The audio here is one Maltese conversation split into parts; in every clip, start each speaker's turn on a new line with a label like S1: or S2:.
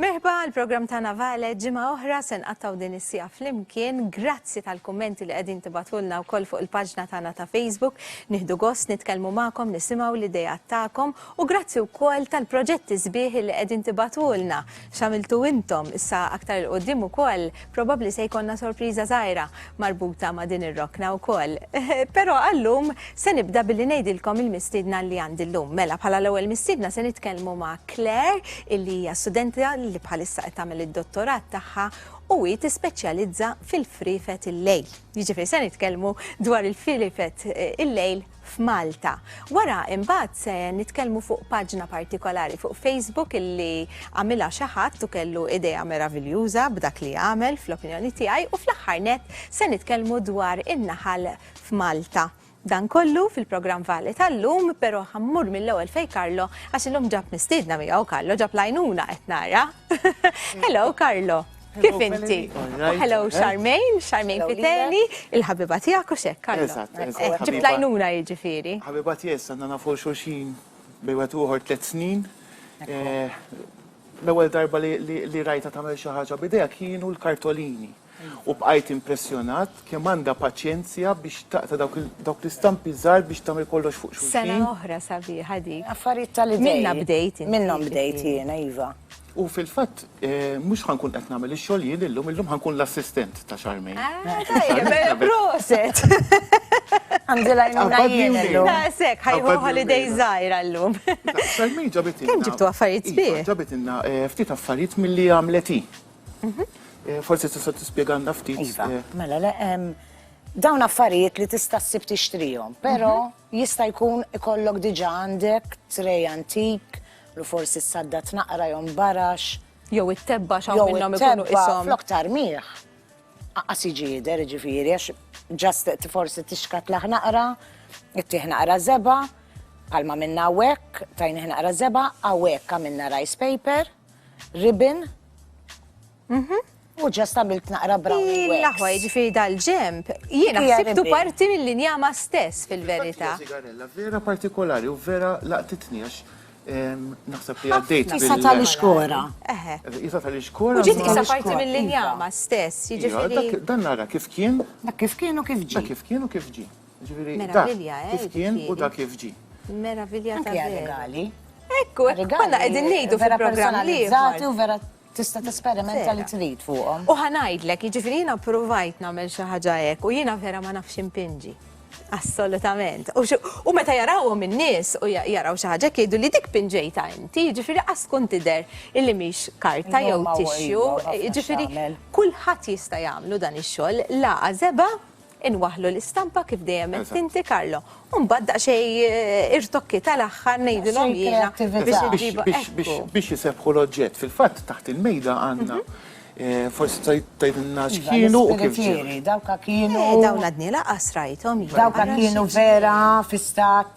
S1: Merħba l-programm ta' Navale ġimgħa oħra se nqattaw din is-sija flimkien. Grazzi tal-kummenti li qegħdin tibatulna wkoll fuq il-paġna tagħna ta' Facebook. Nieħdu gost nitkellmu magħkom, nisimgħu l-idejat tagħkom u grazzi wkoll tal-proġetti sbieħ li qegħdin tibatulna. X'għamiltu intom? Issa aktar 'il quddiem ukoll probabbli se jkollna sorpriża żgħira marbuta ma' din ir-rokna wkoll. Però għal-lum se nibda billi ngħidilkom il-mistiedna li għandi llum. Mela, bħala l-ewwel mistiedna se nitkellmu ma' Claire illi hija studenta li bħalissa qed tagħmel id-dottorat tagħha u hi tispeċjalizza fil-friefet il-lejl. Jiġifieri se nitkellmu dwar il-friefet il-lejl f'Malta. Wara imbagħad se nitkellmu fuq paġna partikolari fuq Facebook illi għamilha xi ħadd u kellu idea meraviljuża b'dak li għamel fl-opinjoni tiegħi u fl-aħħar net se nitkellmu dwar in-naħal f'Malta. Dan kollu fil-programm Vale tal-lum, però ħammur mill-ewwel fej Karlo għax illum ġab mistiedna miegħu Karlo ġab lajnuna qed nara. Hello Karlo. Kif inti? U hello Charmaine, Charmaine Fiteli, il-ħabiba tijak u xek, Karlo. Ġibtlajnuna jġifiri. Ħabiba tijak, sanna
S2: nafu xurxin bejwet uħor tlet snin. Eh, l-ewel darba li rajta tamel xaħġa bideja kienu l-kartolini. U bqajt impressjonat kemm għandha paċenzja biex taqta dawk l-istampi żgħar biex tagħmel kollox fuq xulxin. Sena oħra sabiħa
S1: dik. Affarijiet tal-idea. Minna
S3: bdejt. Minnhom
S1: bdejt jiena
S3: iva. U fil-fatt,
S2: mhux ħa nkun qed nagħmel ix-xogħol jien illum, illum ħa nkun l-assistent ta' Charmaine. Ah, tajjeb,
S1: proset!
S3: Għandi lajnuna jien illum. Daqshekk, ah, ħajħu
S1: holiday żgħira llum. Charmaine ġabit
S2: Kemm ġibtu affarijiet
S1: sbieħ? Iva, ġabit inna eh, ftit
S2: affarijiet milli għamlet hi. Mhm. Eh, forsi tista' tispjegana ftit. Iva, eh. mela le
S3: dawn affarijiet li tista' ssib tixtrihom, però mhm. jista' jkun ikollok diġà għandek trej antik Lu forsi s-saddat naqra jew mbarax. Jew it-tebbax
S1: hawn minnhom ikunu ishom. Flok tarmih.
S3: Aqqas jiġi jidher ġifieri għax ġast forsi tixkat laħ naqra, ittih naqra zeba, palma minna wek, tajnih naqra zeba, għawek għamilna rice paper, ribbon, Mhm. U ġast għamilt naqra brown wax. Laħwa, ġifiri
S1: dal-ġemp, jiena ħsibtu parti mill-injama stess fil-verita. Vera
S2: partikolari u vera laqtitni għax naħseb li għaddejt. Jisa tal-iskora.
S3: Jisa
S2: tal-iskora. Ġit jisa
S1: parti mill-injama stess, ġifiri. Dan nara kif kien.
S2: Dak kif kien u kif
S3: ġi. Dak kif kien u kif ġi.
S2: Ġifiri, dak eh,
S1: kif kien u
S2: dak kif ġi. Meravilja
S1: tal-regali. Ekku, konna għedin nejdu fil-programm li. Vera u vera
S3: Tista' tesperimenta li trid fuqhom. U ħa ngħidlek, jiġifieri
S1: jiena ppruvajt nagħmel xi ħaġa hekk u jiena vera ma nafx impinġi. Assolutament. U meta jarawhom in-nies u jaraw xi ħaġa jgħidu li dik pinġejta inti, jiġifieri qas tkun tidher illi mhix karta jew tixju, jiġifieri kulħadd jista' jagħmlu dan ix-xogħol, lagħa żebgħa Inwaħlu l-istampa kif dejjem qed tinti Karlo. U mbagħad daqsxejn eh, irtokki tal-aħħar ngħidilhom Xejn jiena kreattività. biex Biex- iġibu biex- ekku. biex-
S2: Biex jisebħu l-oġġett. Fil-fatt taħt il-mejda għandna eh, forsi tajt- tajdilna Iva, x'kienu u kif ġew. l-ispiritieri, dawka kienu. Eh,
S3: dawn għadni laqas
S1: rajthom. jiena. Dawka Ara kienu xi-
S3: vera fi stat.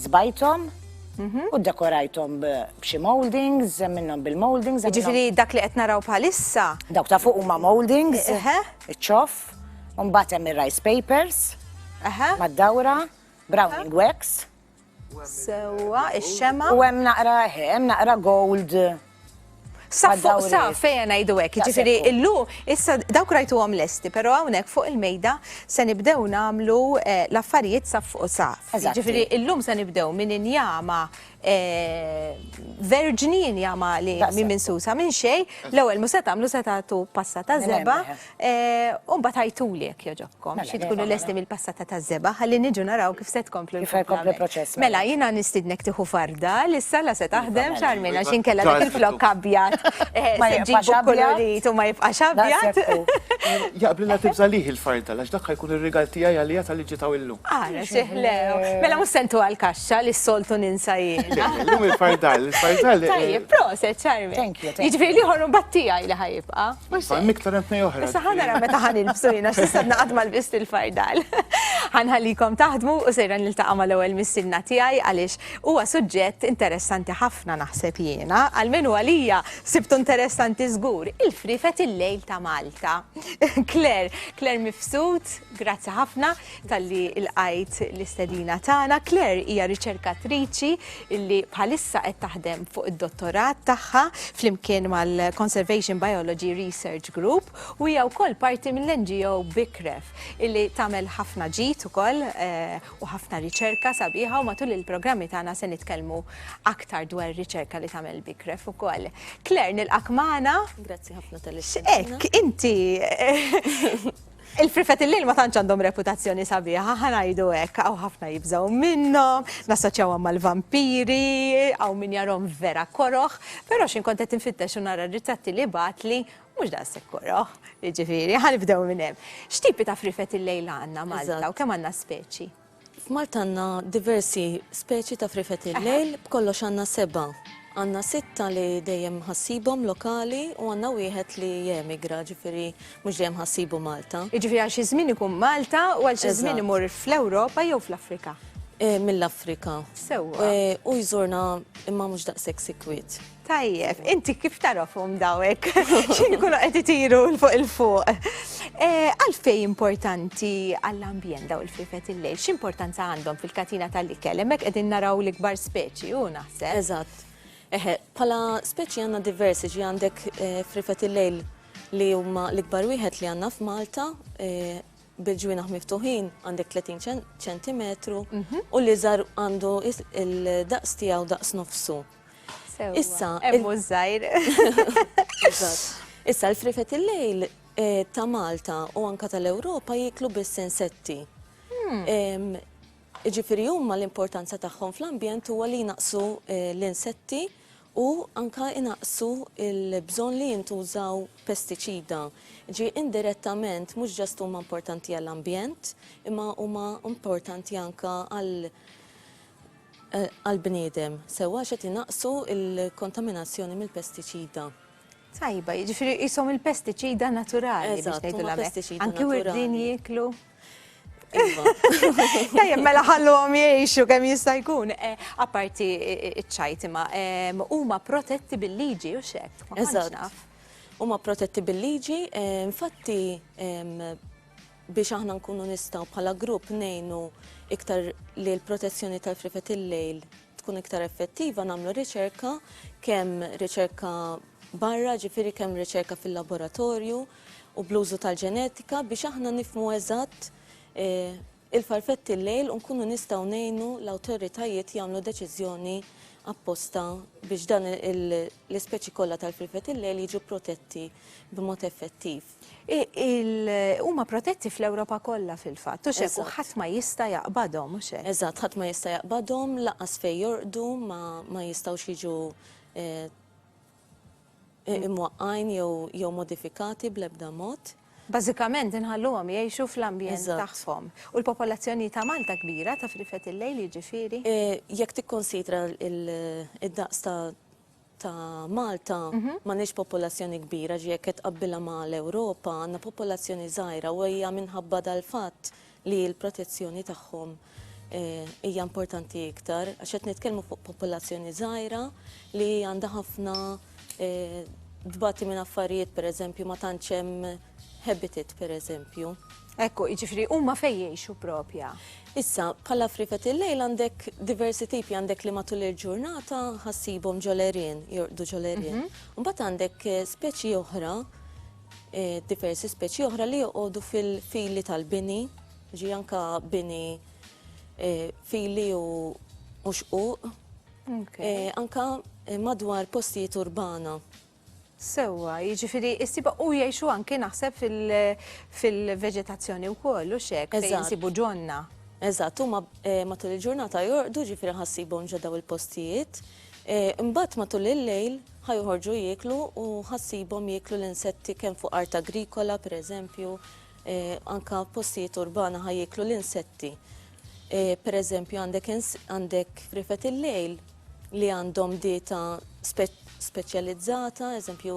S3: Zbajthom u ddekorajthom b'xi mouldings, hemm minnhom bil-mouldings. Jiġifieri dak li qed naraw
S1: bħalissa. Dawk ta' fuq huma
S3: mouldings, iċ-ċoff, u mbagħad hemm ir-rice papers mad-dawra, browning wax. Sewwa,
S1: ix-xemgħa. U hemm naqra,
S3: hemm naqra gold
S1: Sa fuq sa fejja ngħidu hekk, jiġifieri illu issa dawk rajtuhom lesti, però hawnhekk fuq il-mejda se nibdew nagħmlu eh, l-affarijiet sa fuq sa. Jiġifieri illum se nibdew minn injama eh, verġni injama li minn minsusa minn xejn, l-ewwel mhux se tagħmlu se tagħtu passa ta' żeba, U mbagħad għajtuli jekk jogħġobkom, Mela, xi le, tkunu mela. lesti mill-passata taż-żebgħa ħalli niġu naraw kif se tkomplu Kif ħajkompli l-komplament. proċess, mela. Mela
S3: jiena nistidnek
S1: tieħu farda li s-sala se taħdem Mela. xarmin għax inkella dak il-flokk abjad eh, Ma se jibqax ġibu abjad. kolorit u ma jibqax Daqs abjad. jekk hu. Jaqblilha
S2: tibża' lih il-fardal għax dak ħajkun ir-rigal tiegħi għaliha tal-li ġiet hawn
S1: illum.
S2: Ara
S1: xieħ le. Mela mhux
S2: se
S1: ntuha l-kaxxa
S2: li
S1: s-soltu
S2: ninsa
S1: Le, jiena. le, Illum
S2: il-fardal, il-fardal. eh, Tajjeb, proset
S1: xarmin. Thank you, thank you. Jiġifieri l-ieħor
S3: mbagħad tiegħi
S1: li ħajibqa'. Fajm iktar hemm tnej
S2: oħra. Issa ħana ra meta ħan
S1: il-bsulina x'issa naqad mal-bist il-fardal. Ħanħallikom taħdmu u sejra niltaqa' mal-ewwel missilna tiegħi għaliex huwa suġġett interessanti ħafna naħseb jiena, għalmenu għalija sibtu interessanti żgur, il-frifet il-lejl ta' Malta. Claire, Claire Mifsud, grazzi ħafna. talli lqajt l-istedina tagħna. Claire hija riċerkatriċi li bħalissa qed taħdem fuq id-dottorat tagħha flimkien mal-Conservation Biology Research Group u hija wkoll parti mill-NGO Bikref illi tagħmel ħafna ġid ukoll eh, u ħafna riċerka sabiħa u matul il-programmi tagħna se nitkellmu aktar dwar riċerka li tagħmel Bikref ukoll. Claire nilqak magħna. Grazzi ħafna tal-istedina.
S4: X'hekk inti
S1: eh, Il-frifet il-lejl ma tantx għandhom reputazzjoni sabiħa, ħanajdu hekk, hawn ħafna jibżgħu minnhom, nassoċjawhom mal-vampiri, hawn min jarhom vera koroh, però x'in kont qed infittex u nara r-ritratti li bagħatli mhux daqshekk koroh, jiġifieri, ħanibdew minn hemm. X'tipi ta' frifet il-lejl għandna Malta u kemm għandna speċi? F'Malta għandna
S4: diversi speċi ta' frifet il-lejl, b'kollox għandna sebgħa. Għandna sitta li dejjem ħassibhom lokali u għandna wieħed li jemigra, ġifieri mhux dejjem ħassibu Malta. Jiġifieri għal xi żmien ikun
S1: Malta u għal xi żmien imur fl-Ewropa jew fl-Afrika? Mill-Afrika.
S4: Sewwa.
S1: U jżurna
S4: imma mhux daqshekk sikwit. Tajjeb, inti
S1: kif tarafhom dawek? Xi jkunu qed itiru l fuq il fuq. Eh, għalfej importanti għall-ambjent daw il-frifet il-lejl? X'importanza għandhom fil-katina tal-ikel? Hemmhekk qegħdin naraw l-ikbar speċi u naħseb. Eżatt.
S4: Eħe, pala speċi għandna diversi ġi għandek eh, frifet il-lejl li huma l-ikbar wieħed li għandna f'Malta eh, bil-ġwinaħ miftuħin għandek 30 ċentimetru mhm. u li żar għandu il-daqs tiegħu daqs nofsu. Issa. Emmu żgħir. Issa l-frifet il-lejl eh, ta' Malta u anka tal-Ewropa jiklu biss insetti. Hmm. Ġifiri huma l-importanza tagħhom fl-ambjent huwa li jnaqsu eh, l-insetti u anka jnaqsu il-bżon li jintużaw pestiċida. Ġi indirettament mhux ġast huma importanti għall-ambjent, imma huma importanti anka għal għall-bniedem sewwa għax qed inaqqsu l-kontaminazzjoni mill-pestiċida. Tajba,
S1: jiġifieri qishom il-pestiċida naturali biex ngħidulha hekk. Pestiċida
S4: naturali.
S1: Anki
S4: wirdin jieklu. Iva.
S1: Tajjeb, mela ħalluhom jgħixu kemm jista' jkun. Eh, apparti ċ-ċajt imma huma protetti bil-liġi u xek. Eżatt.
S4: Huma
S1: protetti
S4: bil-liġi, eh, infatti biex aħna nkunu nistgħu bħala grupp ngħinu iktar li l-protezzjoni tal-frifet il-lejl tkun iktar effettiva nagħmlu riċerka kemm riċerka barra ġifieri kemm riċerka fil-laboratorju u bl-użu tal-ġenetika biex aħna nifmu eżatt eh, il-farfetti l-lejl u nkunu nistgħu ngħinu l-awtoritajiet jagħmlu deċiżjoni apposta biex dan l-ispeċi kollha tal-frifet il-lejl jiġu protetti b'mod effettiv.
S1: Huma protetti fl-Ewropa kollha fil-fatt, u xek, u ħadd ma jista'
S4: jaqbadhom,
S1: u xek. Eżatt, ħadd ma jista' jaqbadhom,
S4: laqas fejn jorqdu ma jistgħux jiġu imwaqqgħin jew modifikati bl-ebda mod. Bażikament
S1: inħalluhom jgħixu fl-ambjent tagħhom.
S4: U
S1: l-popolazzjoni ta' Malta kbira, ta' frifet il-lejl jiġifieri? Jekk
S4: tikkunsidra d-daqs ta' ta' Malta m'għandniex popolazzjoni kbira, ġifieri jekk qed tqabbilha ma' l-Ewropa, għandna popolazzjoni żgħira u hija minħabba dal-fatt li l-protezzjoni tagħhom hija importanti iktar għax qed nitkellmu fuq popolazzjoni żgħira li għandha ħafna tbati minn affarijiet, pereżempju ma tantx hemm habitat pereżempju. Hekk hu, jiġifieri
S1: huma fejn jgħixu propja. Issa, bħala
S4: friket il-lejl għandek diversi tipi, għandek li matul il-ġurnata ħassibhom ġo l-għerien, jorqdu ġo l-għerien. Mhm. Mbagħad għandek eh, speċi oħra, eh, diversi speċi oħra li joqogħdu fil-fili tal-bini, ġi anka bini eh, fili u mhux uq. Anka madwar postijiet urbana. Sewwa,
S1: jiġifieri ssibha u jgħixu anki naħseb fil-veġetazzjoni wkoll u x'hekk fejn insibu ġonna. Eżatt, huma
S4: eh, matul il-ġurnata jorqdu ġifieri ħassibhom ġodda il-postijiet. Eh, imbagħad matul il-lejl ħajoħorġu jieklu u ħassibhom jieklu l-insetti kemm fuq art agrikola pereżempju, Anka postijiet urbana ħaj jiklu l-insetti. Per eżempju, għandek rifet il-lejl li għandhom dieta speċjalizzata, eżempju,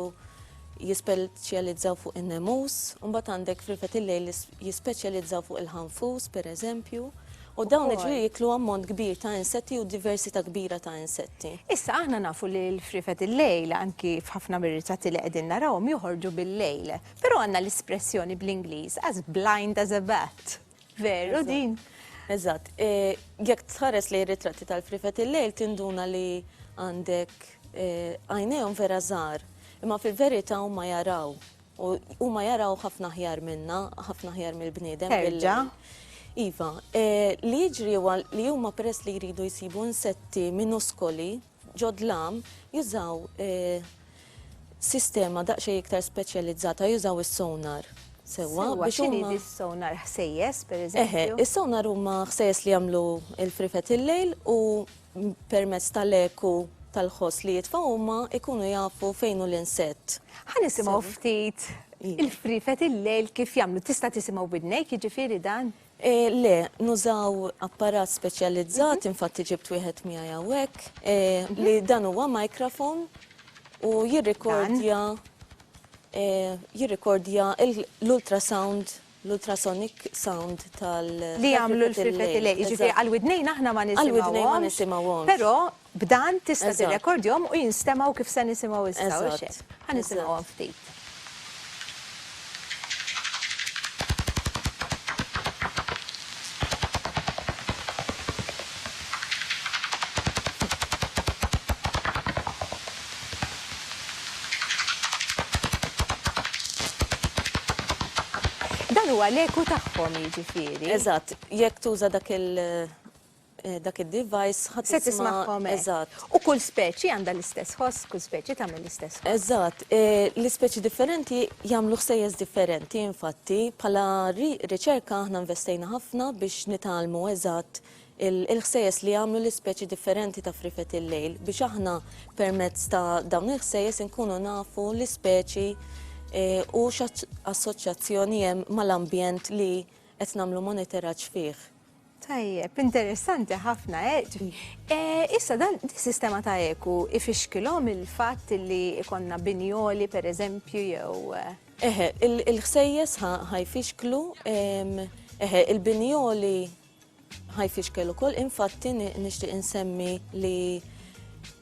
S4: jispeċjalizzaw fuq in-nemus, mbagħad għandek frifet il-lejl jispeċjalizzaw fuq il-ħanfus, per eżempju, u dawn iġri jiklu ammont kbir ta' insetti u diversità kbira ta' insetti. Issa aħna nafu
S1: li l-frifet il-lejl anki f'ħafna mir-ritratti li qegħdin narawhom joħorġu bil-lejl. Però għandna l-espressjoni bl-Ingliż as blind as a bat. Veru din? Eżatt.
S4: Jekk tħares lejn ritratti tal-frifet il-lejl tinduna li għandek għajnejhom vera żgħar, imma fil-verità huma jaraw. U huma jaraw ħafna ħjar minna, ħafna ħjar mill-bniedem. Terġa.
S1: Iva,
S4: li jiġri huwa li huma peress li jridu jsibu insetti minuskoli, Ġodlam jużaw sistema daqsxejn iktar speċjalizzata, jużaw is-sonar sewwa biex
S1: huma. X'inhi di s-sonar? Ħsejjes, pereżempju? Eħe, is-sonar huma
S4: ħsejjes li jagħmlu l-frifet il-lejl u permezz tal-eku tal-ħoss li jitfgħu huma jkunu jafu fejn hu l-insett. Ħa nisimgħu
S1: ftit il-frifet il-lejl kif jagħmlu. Tista' tisimgħu b'widnejk jiġifieri dan? Le,
S4: nużaw apparat speċjalizzat, infatti ġibt wieħed miegħi hawnhekk, li dan huwa microphone u jirrikordja jirrikordja l-ultrasound, l-ultrasonic sound tal-. Li jagħmlu
S1: l-frifetilej, jiġifieri għall-widnejn aħna ma nisimgħuhomx. Għall-widnejn ma nisimgħuhomx. Però B'dan tista' tirrekordjhom u jinstemgħu kif se nisimgħu issa, hux hekk? Ħa nisimgħuhom ftit. Dan huwa l-eku tagħhom, jiġifieri. Eżatt. Jekk
S4: tuża dak il. dak id-device ħa tisma'. Se tismagħhom hekk. Eżatt.
S1: U kull
S4: speċi
S1: għandha l-istess ħoss, kull speċi tagħmel l-istess ħoss. Eżatt.
S4: L-ispeċi differenti jagħmlu ħsejjes differenti, infatti, bħala riċerka aħna investejna ħafna biex nitgħallmu eżatt il-ħsejjes li jagħmlu l-ispeċi differenti ta' friefet il-lejl biex aħna permezz ta' dawn il-ħsejjes inkunu nafu l-ispeċi u x'assoċjazzjoni hemm mal-ambjent li qed nagħmlu monitoraġġ fih. Tajjeb,
S1: interessanti ħafna, eh? Eh, issa dan is-sistema ta' eku ifixkilhom il-fatt li ikonna binjoli per eżempju jew. Eh? Eħe,
S4: il-ħsejjes ħajfixklu, eħe, il-binjoli ħajfixkel ukoll, infatti nixtieq insemmi li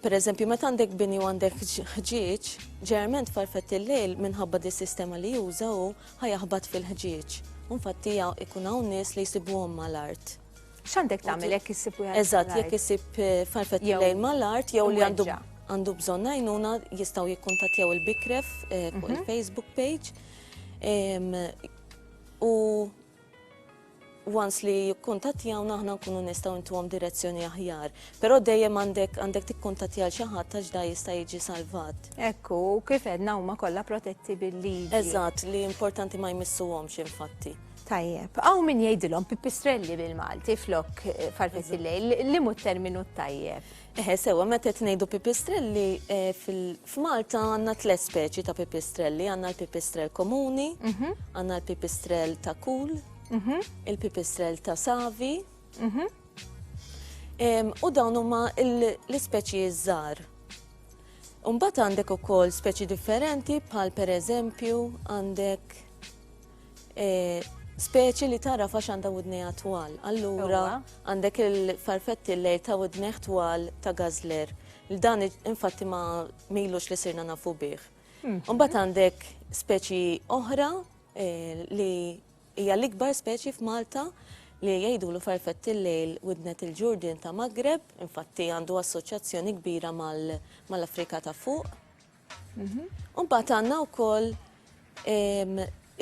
S4: Per eżempju, meta għandek bini u għandek ħġieġ, ġerment farfet il-lejl minħabba di sistema li jużaw Ħa jaħbat fil-ħġieġ, u nfatti ja ikun hawn nies li jsibuhom mal-art. X'għandek tagħmel
S1: jekk issib wieħed Eżatt, jekk isib
S4: eh, farfet Jew- lejl mal-art jew li għandu imweġġa'. għandu bżonn għajnuna jistgħu jikkuntattjaw il-Bikref eh, fuq il-Facebook page. Em, U once li jikkuntattjawna aħna nkunu nistgħu intuhom direzzjoni aħjar. Però dejjem għandek għandek tikkuntattja xi ħadd għax da jista' jiġi salvat. Ekku, kif
S1: edna huma kollha protetti bil-liġi. Eżatt, li importanti
S4: ma jmissuhomx infatti. Tajjeb, għaw
S1: min jgħidilhom pipistrelli bil-Malti flok eh, farfetti lejl, li mu terminu tajjeb. Eħe sewwa meta qed
S4: ngħidu pipistrelli f'Malta għandna tliet speċi ta' pipistrelli, għandna l-pipistrell komuni, mhm. għandna l-pipistrell ta' kul, mhm. il-pipistrell ta' savi, mhm. u dawn huma l-ispeċi żgħar. Umbat għandek ukoll speċi differenti bħal pereżempju għandek Speċi li tagħraf għax għandha widnejha twal. Allura għandek il-farfetti lejr ta' widnejh twal ta' gazler. Dan infatti ma milux li sirna nafu bih. Hmm. Mbagħad għandek speċi oħra eh, li hija l-ikbar speċi f'Malta li jgħidu l farfett il-lejl widnet il-ġurdin ta' Magreb, infatti għandu assoċjazzjoni kbira mal-Afrika ta' fuq. Mhm. U mbagħad għandna wkoll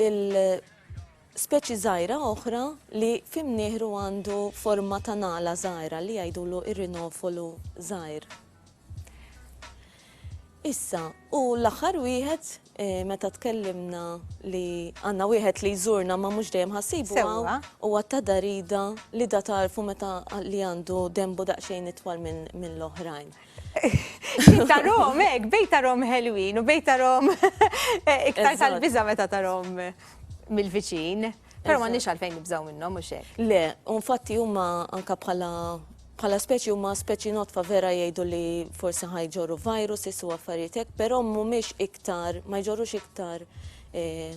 S4: il-speċi żgħira oħra li fimnieħru għandu forma ta' nala żgħira li jgħidulu ir-rinofolu żgħir. Issa, u l-aħħar wieħed e, meta tkellimna li għandna wieħed li jżurna ma mhux dejjem ħassibu u għatta darida li da tarfu meta li għandu dembu daqsxejn itwal minn l-oħrajn. Jien
S1: tarhom hekk, bej tarhom ħelwin u bej tarhom iktar tal-biża' meta tarhom mill-viċin. Però m'għandniex
S4: għalfejn
S1: nibżgħu minnhom mhux hekk.
S4: Le,
S1: u nfatti huma anke bħala bħala
S4: speċi huma speċi notfa vera jgħidu li forsi ħajġorru virus, issu affarijiet hekk, però mhumiex iktar, ma jġorrux iktar eh,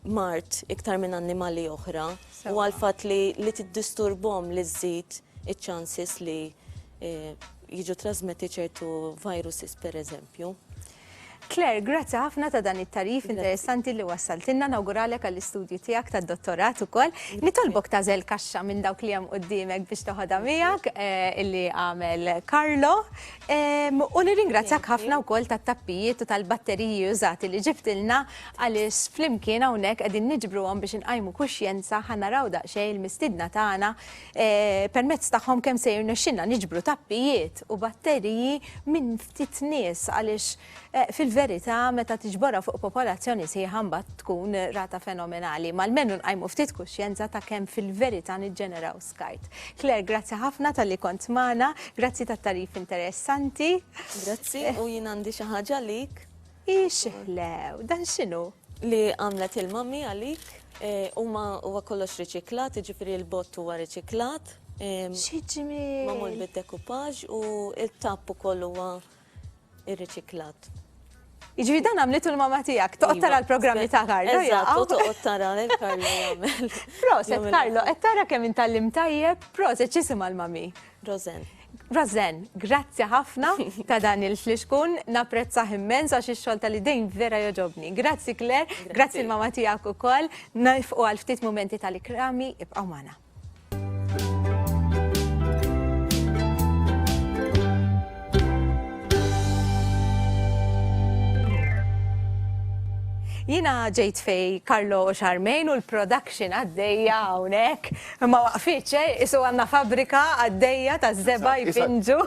S4: mard iktar minn annimali oħra u għall-fatt li li tiddisturbhom li żżid iċ-chances li jiġu trasmetti ċertu viruses pereżempju. Claire,
S1: grazzi ħafna ta' dan it-tagħrif interessanti li wassaltilna, nawguralek għall-istudju tiegħek tad-dottorat ukoll. Nitolbok tażel kaxxa minn dawk li hemm quddiemek biex toħodha miegħek eh, illi għamel Carlo. U nirringrazzjak ħafna wkoll tat-tappijiet u tal-batteriji użati li ġibtilna Għaliex flimkien hawnhekk qegħdin niġbruhom biex inqajmu kuxjenza ħa naraw daqsxejn il-mistiedna tagħna permezz tagħhom kemm se jirnexxilna niġbru tappijiet u batteriji minn ftit nies għaliex fil-verità meta tiġborha fuq popolazzjoni sħiħa mbagħad tkun rata fenomenali. Ma almenu nqajmu ftit kuxjenza ta' kemm fil-verità niġġeneraw skart. Claire, grazzi ħafna talli kont magħna, grazzi tat-tagħrif interessanti. Grazzi
S4: u jien għandi xi ħaġa għalik. Ix iħlew,
S1: dan x'inhu? Li għamlet
S4: il-mummy għalik, huma huwa kollox riċiklat, jiġifieri l-bott huwa riċiklat. Xi
S1: ġmiel! Magħmul bid-dekupaġ
S4: u t-tapp ukoll huwa rriċiklat.
S1: Jiġifieri dan għamlitu l-mama tiegħek, toqgħod tara l-programm li ta' Karlo. Eżatt, toqgħod tara
S4: lil Karlo jagħmel. Proset Karlo,
S1: qed tara kemm intallimt tajjeb, proset x'isimha l-mummy? Rosen.
S4: Rosen,
S1: grazzi ħafna ta' dan il-flixkun, naprezza immens għax ix-xogħol tal-idejn vera joġobni. Grazzi Claire, grazzi l-mama tiegħek ukoll, nifqu għal ftit momenti tal-ikrami, ibqgħu magħna. Jina ġejt fej Karlo Xarmejn u l-production għaddejja hawnhekk. Ma waqfitx, eh? Qisu għandna fabbrika għaddejja ta' żebgħa jpinġu.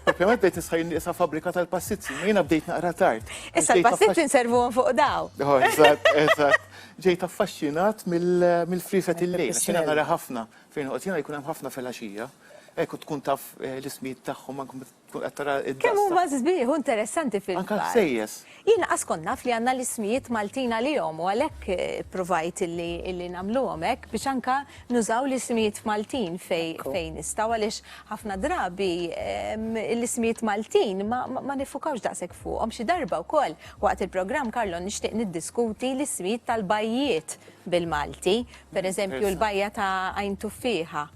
S1: Propjament bdejt
S2: nisħa jien qiesha fabbrika tal-passizzi, ma jiena bdejt naqra tard. Issa l-passizzi
S1: nservuhom fuq daw. Oh, eżatt, eżatt.
S2: Ġejt affaxxinat mill-friset il-lejl, għax jiena nara ħafna fejn noqgħod jiena jkun hemm ħafna filgħaxija. Hekk u tkun taf eh, l-ismijiet tagħhom anke Tkun qed tara d-daqs. Kemm huma sbieħ u
S1: interessanti fil-park. Anke l-ħsejjes. Jien
S2: laqas kont naf
S1: li għandna l-ismijiet Maltin għalihom u għalhekk ippruvajt illi nagħmluhom hekk biex anke nużaw l-ismijiet Maltin fejn nistgħu għaliex ħafna drabi l-ismijiet Maltin ma niffukawx daqshekk fuqhom. Xi darba wkoll waqt il-programm Carlo nixtieq niddiskuti l-ismijiet tal-bajjiet bil-Malti. Pereżempju l-bajja ta' Għajn Tuffieħa.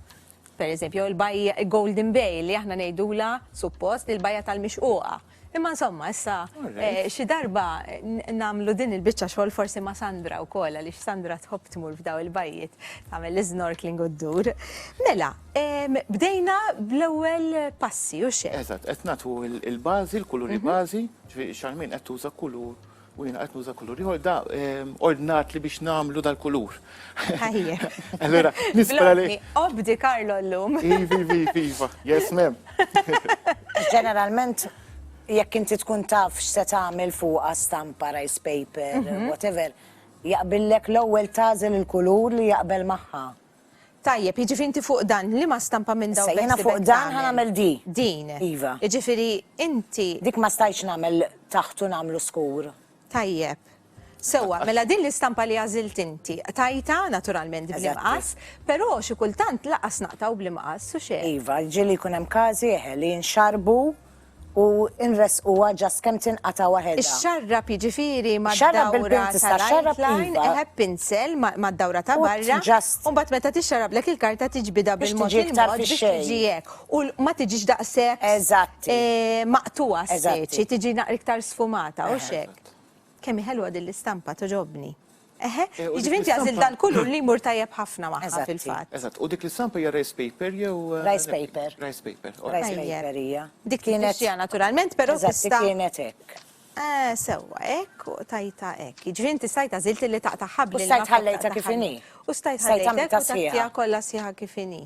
S1: Pereżempju, jew il-bajja Golden Bay li aħna ngħidulha, suppost, il-bajja tal-mixquqa. Imma insomma, issa xi darba nagħmlu din il-biċċa xogħol forsi ma' Sandra wkoll għaliex Sandra tħobb tmur f'daw il-bajjiet tagħmel l-isnorkeling u ddur. Mela, bdejna bl-ewwel passi, u x'hemm? Eżatt, qed nagħtu
S2: l-bażi, l-kuluri bażi, ġifieri Charmaine qed tuża kulur U jiena qed nuża kulur ieħor da ordnat li biex nagħmlu dal-kulur. Ħajja.
S1: Allura,
S2: nispera li. Obdi Karlo
S1: llum. Iva, iva, iva, iva.
S2: Yes, mem. Ġeneralment,
S3: jekk inti tkun taf x'se tagħmel fuqha stampa, rice paper, mhm. whatever, jaqbillek l-ewwel tażel il-kulur li jaqbel magħha. Tajjeb,
S1: jiġifieri inti fuq dan, liema stampa minn dawn beħsibek tagħmel? Issa, jiena fuq dan ħa nagħmel
S3: di. Din. Iva.
S1: Jiġifieri inti. Dik ma stajtx nagħmel
S3: taħt u nagħmlu skur. Tajjeb.
S1: Sewwa, mela din l-istampa li għażilt inti, qtajtha, naturalment, bl-imqas, però xi kultant lanqas naqtgħu bl-imqas, hux hekk? Iva, jiġri li jkun hemm
S3: każi, eħe, li jinxarbu. u nressquha just kemm tinqata' waħedha. Ixxarrab jiġifieri
S1: mad-dawra
S3: tal-outline, eħe b'pinsel
S1: mad-dawra ta' barra, u mbagħad meta tixxarrablek il-karta tiġbidha bil-mod il-mod biex
S3: tiġi hekk,
S1: u
S3: ma
S1: tiġix daqshekk
S3: maqtugħa
S1: speċi, tiġi
S3: iktar
S1: sfumata, hux hekk? Kemm hi ħelwa din l-istampa, togħġobni. Eħe, jiġifieri inti għażilt dan kulur li jmur tajjeb ħafna magħha fil-fatt. Eżatt, u dik l-istampa hija
S2: rice paper jew? Rice paper.
S3: Rice paper. Rice
S2: paper
S3: hija. Dik kienet hija
S1: naturalment, però tista'. Eżatt, dik kienet hekk.
S3: Eh, sewwa,
S1: hekk u tajta hekk. Jiġifieri inti stajt għażilt li taqta' ħabli. U stajt ħallejtha kif
S3: inhi. U stajt ħallejtha kif inhi.
S1: Stajt għamiltha sħiħa. Stajt
S3: għamiltha
S1: kif
S3: inhi.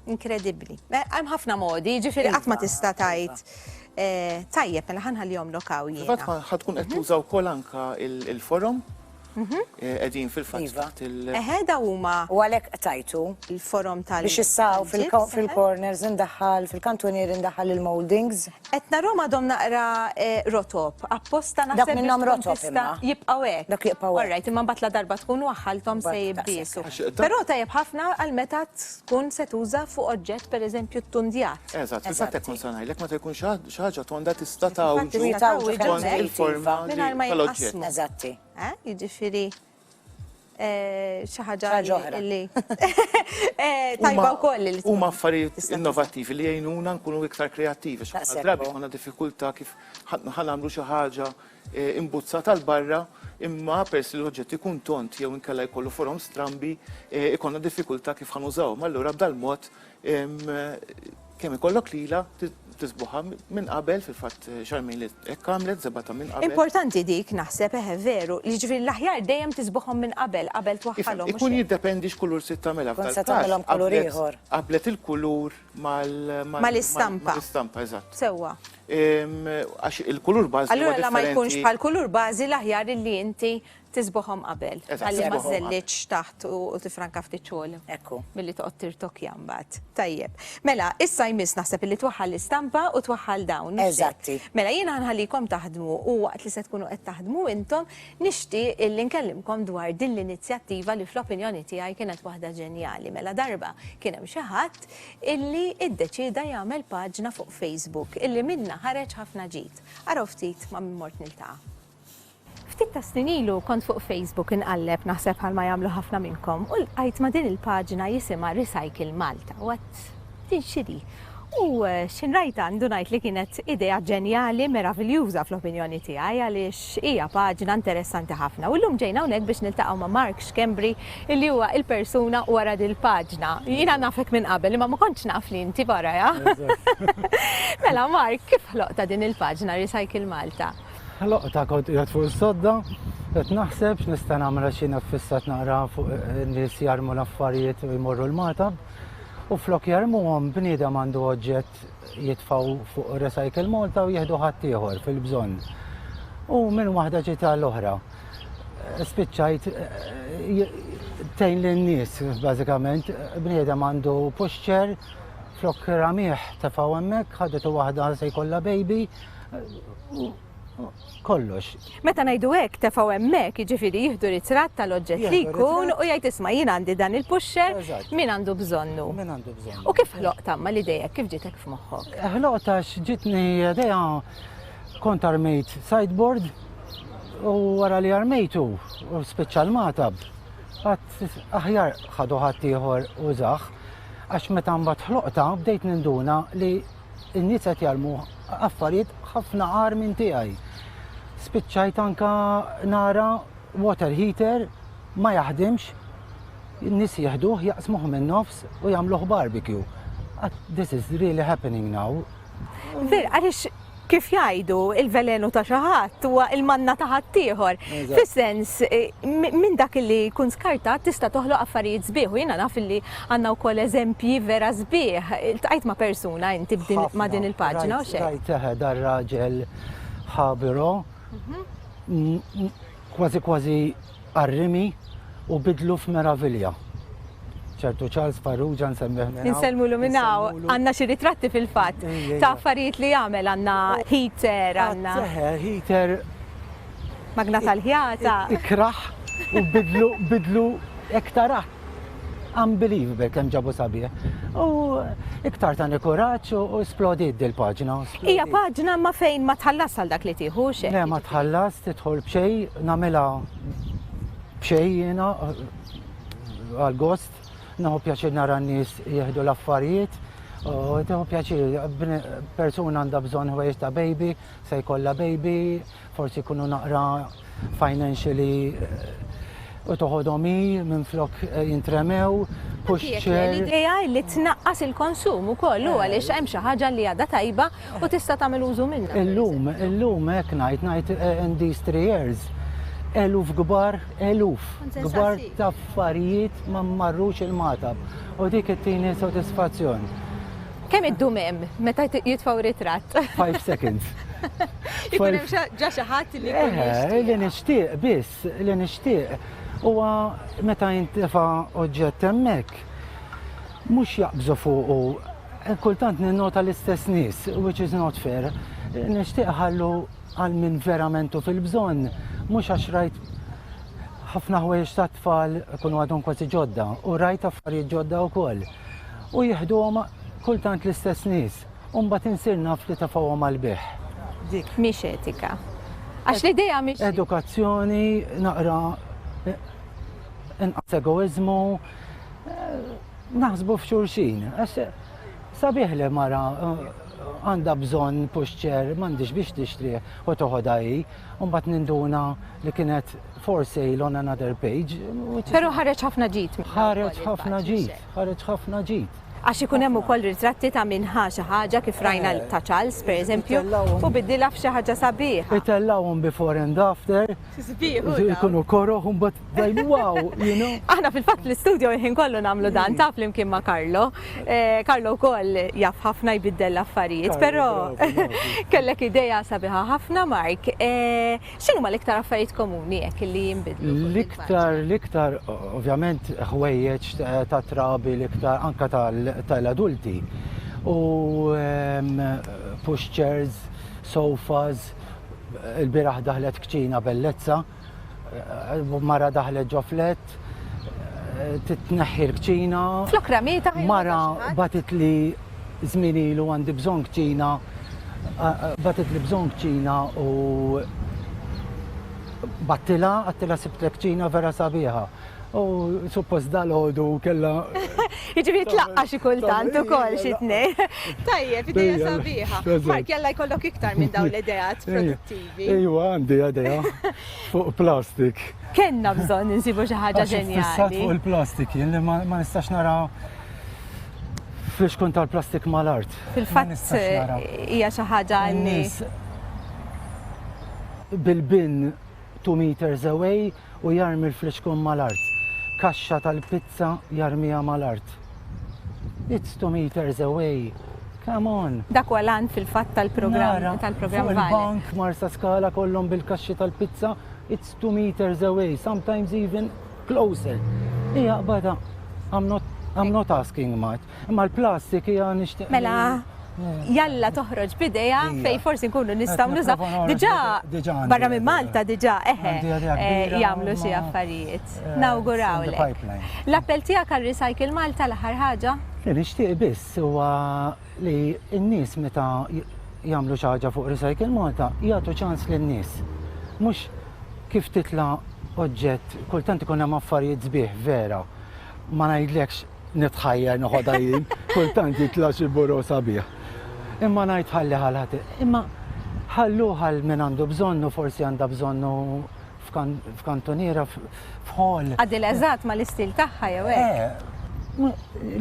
S1: Inkredibbli. Eh, hemm ħafna modi, jiġifieri qatt ma iva, tista' tgħid iva. Eh,
S2: tajjeb,
S1: mela ħanħallihom
S2: lokaw
S1: jiena.
S2: Fatt
S1: ħatkun qed mhm.
S2: tuża wkoll anka il-forum mhm. eh, qegħdin fil-fatt iva. taħt il- Eħe
S3: da
S2: huma U
S1: għalhekk tajtu
S3: il-forum tal biex
S1: issaw
S3: fil-corners indaħħal, fil-kantunier indaħħal il-moldings. Qed narhom għadhom
S1: naqra rotob, apposta naħseb. Dawk minnhom rotob
S3: imma. Jibqgħu
S1: hekk.
S3: Dawk jibqgħu
S1: hekk. Orrajt, imma
S3: mbagħad la darba tkun
S1: waħħalthom se jibbisu.
S3: Però
S1: tajjeb
S2: ħafna
S1: għal meta tkun se tuża fuq oġġett pereżempju ttundjat. Eżatt, fil-fatt hekk kont se
S2: ngħidlek meta jkun xi ħaġa tonda tista' tgħawġu skont
S1: il-forma
S2: tal-oġġett.
S1: Eżatti.
S3: Jiġifieri
S1: Eh, xi ħaġa li eh, tajba wkoll li huma affarijiet
S2: innovattivi li jgħinuna nkunu iktar kreattivi. Drabi għandna
S3: diffikultà
S2: kif ħanamlu xi ħaġa eh, imbuzza tal-barra imma pers li l-oġġett ikun tont jew inkella jkollu forom strambi ikonna diffikultà kif ħanużaw. Allura b'dal-mod Kemm ikollok lilha tisbuħha minn qabel fil-fatt xarmejn li hekk għamlet żebgħa ta' minn qabel. Importanti dik naħseb
S1: eħe veru, li ġifieri l-aħjar dejjem tisbuħhom minn qabel qabel twaħħalhom. Ikun jiddependi x'kulur se
S2: tagħmilha. Tkun se tagħmilhom kulur
S3: ieħor. Qablet il-kulur
S2: mal
S1: mal-istampa. Mal-istampa, eżatt.
S2: Sewwa. Għax il-kulur bażi. Allura la ma jkunx
S1: bħall-kulur bażi l-aħjar li inti Tisbuħhom qabel. Eżatt, Ħalli ma tisbuħhom qabel. żellitx taħt
S2: u u
S1: tifranka ftit xogħol. Ekku. Milli toqgħod
S3: tirtokja
S1: mbagħad. Tajjeb. Mela, issa jmiss naħseb li twaħħal l-istampa u twaħħal dawn. mhux hekk? Eżatti. Mela jiena
S3: nħallikom
S1: taħdmu u waqt li se tkunu qed taħdmu intom nixtieq illi nkellimkom dwar din l-inizjattiva li fl-opinjoni tiegħi kienet waħda ġenjali. Mela darba kien hemm xi ħadd illi iddeċieda jagħmel paġna fuq Facebook illi minnha ħareġ ħafna ġid. Araw ftit ma' min mort niltaqa'. Ftit tas-snin ilu kont fuq Facebook inqalleb, naħseb bħalma jagħmlu ħafna minnkom, u ltqajt ma' din il-paġna jisimha Recycle Malta u għedt din x'inhi? U x'in rajtha għandu ngħid li kienet idea ġenjali, meraviljuża fl-opinjoni tiegħi għaliex hija paġna interessanti ħafna. U llum ġejna hawnhekk biex niltaqgħu ma' Mark Schembri illi huwa il-persuna wara dil-paġna. Jiena nafek minn qabel imma ma kontx naf li inti warajha. Mela Mark, kif ħloqtha din il-paġna Recycle Malta? Loqta kont
S5: qiegħed fuq is-sodda, qed naħseb x'nista' nagħmel għax jiena ffissat naqra fuq in-nies jarmu l-affarijiet u jmorru l-matab. U flok jarmuhom bniedem għandu oġġett jitfaw fuq Recycle Malta u jieħdu ħadd ieħor fil-bżonn. U minn waħda ġita l-oħra. Spiċċajt tejn lin-nies bażikament, bniedem għandu puxċer flok ramieħ tefaw hemmhekk, ħadet waħda se jkollha baby, kollox. Meta ngħidu hekk
S1: tefgħu hemmhekk, jiġifieri jieħdu ritratt tal-oġġett li jkun u jgħid isma'
S5: jien
S1: għandi dan il-puxxer min għandu
S5: bżonnu.
S1: Min għandu bżonnu. U
S5: kif ħloq tamma li
S1: dejjek kif ġitek f'moħħok? Eh, ħloq għax
S5: ġitni dejja kont armejt sideboard u wara li armejtu u speċjal matab għat aħjar ħadu ħadd ieħor u zaħ għax meta mbagħad ħloqta bdejt ninduna li in-nies qed jarmu affarijiet ħafna għar minn tiegħi. Spiċċajt anka nara water heater ma jaħdimx, in-nies jieħduh jaqsmuh minn nofs u jagħmluh barbecue. Ah, this is really happening now. Fir,
S1: għalix kif jajdu il-velenu ta' xaħat u il-manna ta' ħaddieħor. Fis-sens,
S5: eh,
S1: minn dak li kun skartat tista' toħloq affarijiet sbieħ u jiena naf li Għandna wkoll eżempji vera sbieħ. Iltqajt ma' persuna inti b'din ma' din il-paġna u xejn? Rajt eħe dar raġel
S5: ħabiro kważi kważi qarrimi u bidlu f'meravilja. ċertu Charles Farrugia nsemmih minn. Insellmulu minn hawn.
S1: Għandna xi ritratti fil-fatt ta' affarijiet li jagħmel għandna heater għandna. Heater Magna tal-ħjata. Ikrah
S5: u bidlu bidlu hekk tarah. Unbelievable kemm ġabu sabiħ. U iktar tani kuraġġ u splodiet dil-paġna. Hija paġna
S1: ma fejn ma tħallas għal dak li tieħu xejn. Le ma tħallas
S5: tidħol b'xejn nagħmilha b'xejn jiena għal gost naħu pjaċir nara n-nies jieħdu l-affarijiet. U teħu pjaċir, persuna għandha bżonn ħwejjeġ ta' baby, Se jkollha baby, forsi jkunu naqra financially u toħodhom hi minflok jintremew, push chair. L-idea li
S1: tnaqqas il-konsum ukoll hu għaliex hemm xi ħaġa li għadha tajba u tista' tagħmel użu minnha. Illum, illum
S5: hekk ngħid, ngħid in these three years, eluf kbar, eluf kbar ta' affarijiet ma marrux il-Magħtab u dik ittini sodisfazzjon.
S1: Kemm iddum
S5: hemm
S1: meta
S5: jitfgħu
S1: ritratt?
S5: Five
S1: seconds. Ikun hemm ġa xi ħadd li jkun eh, Li nixtieq
S5: biss, li nixtieq. Huwa meta jintefa' oġġett hemmhekk mhux jaqbżu fuqu eh, kultant ninnota l-istess nies, which is not fair. Nixtieq ħallu għal minn veramentu fil-bżonn, mhux għax rajt ħafna ħwejjeġ ta' tfal kunu għadhom kważi ġodda u rajt affarijiet ġodda wkoll. u jieħduhom kultant l-istess nies u mbagħad insir naf li tafgħuhom għall-bejħ. Dik mhix etika.
S1: Għax l-idea mhix. Edukazzjoni
S5: naqra eh, inqas egoizmu eh, naħsbu f'xulxin. Għax sabiħ li mara eh, għanda bżon puxċer, mandiġ biex tixtri u toħodha hi, un bat ninduna li kienet For sale on another page. Pero ħareġ
S1: ħafna ġid. Ħareġ ħafna ġid,
S5: ħareġ ħafna ġid. Għax ikun hemm ukoll
S1: ritratti ta' minn ħa xi ħaġa kif rajna eh, ta' Charles pereżempju u bidilha f'xi ħaġa sabiħ. Itellawhom before
S5: and after. Sbieħ. Ikunu koroh u mbagħad wow, you know. Aħna fil-fatt l-istudio
S1: jħin kollu nagħmlu dan taf flimkien ma' Karlo. Eh, Karlo wkoll jaf ħafna jbiddel l-affarijiet, però kellek idea sabiħa ħafna Mark. Eh, X'inhuma l-iktar affarijiet komuni hekk li jinbidlu? L-iktar, l-iktar
S5: ovvjament ħwejjeġ ta' trabi l-iktar anka tal-adulti. U ehm, pushchairs, sofas, il-biraħ daħlet kċina bellezza, eh, mara daħlet ġo flet, titneħħi l-kċina. Flok ramita
S1: Mara
S5: batit li żmien ilu għandi bżonn kċina batit li bżonn kċina u battila għattila sibt kċina vera sabiħa. U suppost dal-ħodu kella. Iġivi
S1: tlaqqa xi kultant ukoll xi tnej. Tajjeb, ideja sabiħa. Ma kella jkollok iktar minn dawn l-idejat produttivi. Ejwa, għandi għadeja
S5: fuq plastik. Kenna bżon
S1: nsibu xi ħaġa ġenjali. Fissat fuq il-plastik, jien
S5: li ma nistax nara fl-ixkun tal-plastik mal-art. Fil-fatt
S1: hija xi ħaġa li.
S5: Bil-bin 2 meters away u jarmi l-friċkun mal-art. Kaxxa tal-pizza jarmiha mal-art. It's two meters away. Come on! Dak huwa l-għan fil-fatt
S1: tal-programm tal-programm Vale. Il-bank Marsa
S5: Skala kollhom bil-kaxxi tal-pizza it's two meters away, sometimes even closer. Ija qbada, I'm not, I'm not asking much. Imma l-plastik hija nixtieq. Mela,
S1: jalla toħroġ bidejha fej forsi nkunu nistgħu nużaw. Diġà barra minn Malta diġà eħe eh, jagħmlu xi affarijiet. Eh, Nawgurawlek. L-appell tiegħek għal Recycle Malta l-aħħar ħaġa? Li nixtieq biss
S5: huwa li n-nies meta jagħmlu xi ħaġa fuq Recycle Malta jagħtu ċans lin-nies. Mhux kif titla' oġġett, kultant ikun hemm affarijiet sbieħ vera ma ngħidlekx nitħajjar noħodha jien, kultant jitla' xi buro sabiħ. Imma ngħid ħalli għal ħadd. Imma ħalluh għal min għandu bżonnu, forsi għandha bżonnu f'kantuniera f'ħol. Għadil eżatt ma
S1: l-istil tagħha jew hekk. Eh,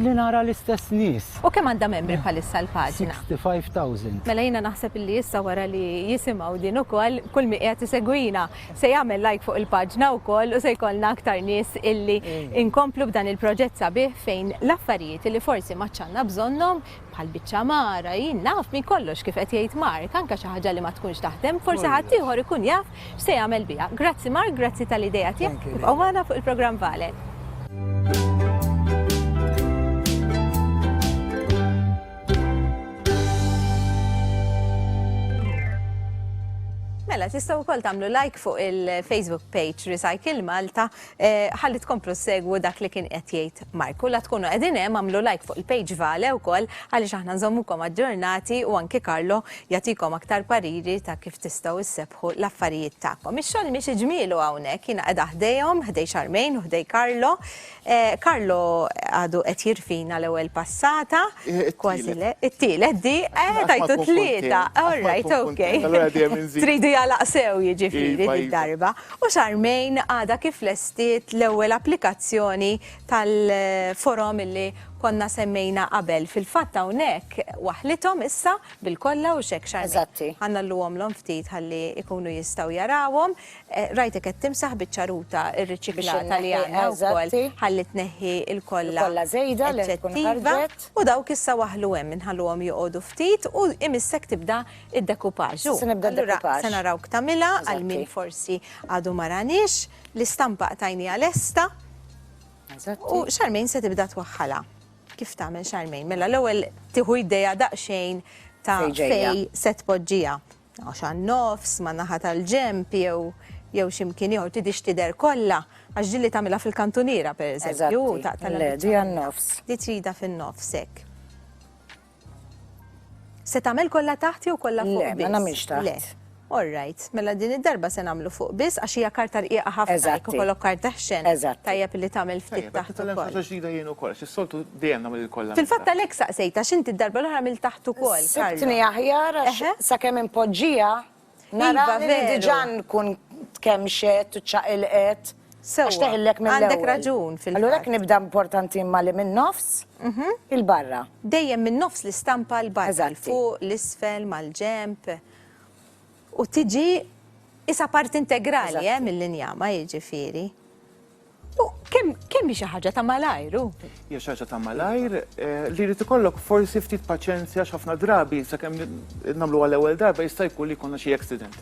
S1: li
S5: nara l-istess nis. U kemm għandha membri eh,
S1: bħalissa l-paġna? 65,000.
S5: Mela jiena naħseb
S1: li issa wara li jisimaw din ukoll kull mi qiegħed isegwina Se jagħmel like fuq il-paġna wkoll u se jkollna aktar nies illi inkomplu b'dan il-proġett sabiħ fejn l-affarijiet illi forsi ma għadx għandna bżonnhom bħal biċċa mara, jien naf minn kollox kif qed jgħid Mark, anke xi ħaġa li ma tkunx taħdem, forsi ħaddieħor ikun jaf x'se jagħmel biha. Grazzi Mark, grazzi tal-idea tiegħek, ibqgħu magħna fuq il-programm Vale. Mela, tistaw kol tamlu like fuq il-Facebook page Recycle Malta eh, ħalli tkomplu segwu dak li kien qed jgħid Marku. La tkunu qegħdin hemm għamlu like fuq il-page Vale wkoll għaliex aħna nżommukom aġġornati u anki Karlo jagħtikom aktar pariri ta' kif tistgħu issebħu l-affarijiet tagħkom. Ix-xogħol miex iġmielu hawnhekk jiena qiegħda ħdejhom, ħdej Xarmejn u ħdej Karlo. Carlo għadu qed jirfina l-ewwel passata. Kważi le. It-tielet di, eh tajtu tlieta. All right, okay. Tridu jalaq sew jiġifieri darba. U Charmaine għadha kif lestiet l-ewwel applikazzjoni tal-forom li konna semmejna qabel. Fil-fatt hawnhekk waħlithom issa bil-kollha u x'hekk Charmaine. Eżatti. Ħa ngħalluhomlhom ftit ħalli jkunu jistgħu jarawhom. Rajtek qed timsaħ biċ-ċaruta rriċiklata li għandna wkoll ħalli tneħħi l-kolla eċċettiva
S3: u dawk issa waħlu
S1: hemm inħalluhom joqogħdu ftit u imissek tibda d-dekupaġ. Allura
S3: se narawk tagħmilha
S1: għal min forsi
S3: għadu
S1: ma raniex, l-istampa qtajniha lesta u Charmaine se tibda twaħħalha. Kif tagħmel Charmaine? Mela l-ewwel tieħu idea daqsxejn ta' fejn se
S3: tpoġġiha.
S1: Għax għan-nofs, ma' naħa tal-ġenb jew jew xi mkien ieħor tidhiex tidher kollha għax din li tagħmilha fil-kantuniera pereżempju taqtala. Le, di
S3: għan-nofs. Di trida fin-nofs
S1: hekk. Se tagħmel kollha taħt jew kollha fuq biss? Le, ma nagħmilx taħt. Le.
S3: All right,
S1: mela din id-darba se nagħmlu fuq biss għax hija karta rqiqa ħafna jekk ikollok karta
S3: ħxen.
S1: Eżatt. Tajjeb li tagħmel
S3: ftit
S1: taħt ukoll. Tajjeb, ġdida
S2: jien
S1: ukoll,
S2: xi soltu Dejjem nagħmel il-kollha minn taħt. Fil-fatt għalhekk saqsejt
S1: għax inti d-darba l-oħra għamilt taħt ukoll, Carlo. Sibtni aħjar
S3: għax sakemm
S1: inpoġġiha
S3: narani li diġà
S1: nkun
S3: tkemmxet u ċċaqilqet għax teħillek
S1: mill-ewwel. Sewwa,
S3: għandek raġun fil-fatt. Allura
S1: hekk nibda importanti
S3: imma li min-nofs 'il barra. Dejjem min-nofs
S1: l-istampa 'l barra, 'l fuq, 'l
S3: isfel,
S1: mal-ġenb. U tiġi qisha parti integrali mill-injama
S3: jiġifieri.
S1: Kemm hi xi ħaġa ta' malajr hu? Hija xi ħaġa ta'
S2: malajr eh, li jrid ikollok forsi ftit paċenzja x'ħafna drabi sakemm nagħmlu għal ewwel darba jista' jkun li jkollna xi accident.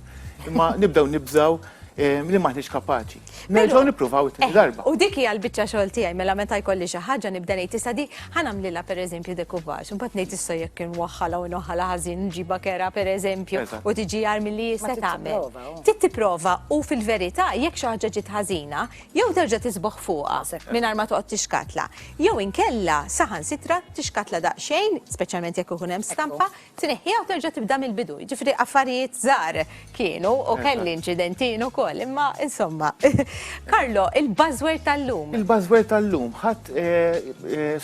S2: Imma nibdew nibżaw eh, li maħniex kapaċi. Nerġgħu nippruvaw it eh, darba. U dik hija l-biċċa xogħol
S1: tiegħi mela meta jkolli xi ħaġa nibda ngħid issa di ħanamlilha pereżempju dekuvaġ, imbagħad ngħid issa jekk inwaħħalha u noħħalha ħażin nġibha kera pereżempju u tiġi jar
S2: milli jista'
S1: tagħmel. Trid tipprova
S3: u
S1: fil-verità jekk xi ħaġa ġiet ħażina, jew terġa' tisboħ fuqha mingħajr ma toqgħod tixkatla, jew inkella saħansitra tixkatla daqsxejn, speċjalment jekk ikun hemm stampa, tneħħiha u terġa' tibda mill-bidu. Jiġifieri affarijiet żgħar kienu u kelli inċidenti jien ukoll, imma insomma. Carlo, il-buzzword tal-lum. Il-buzzword tal-lum
S2: ħadt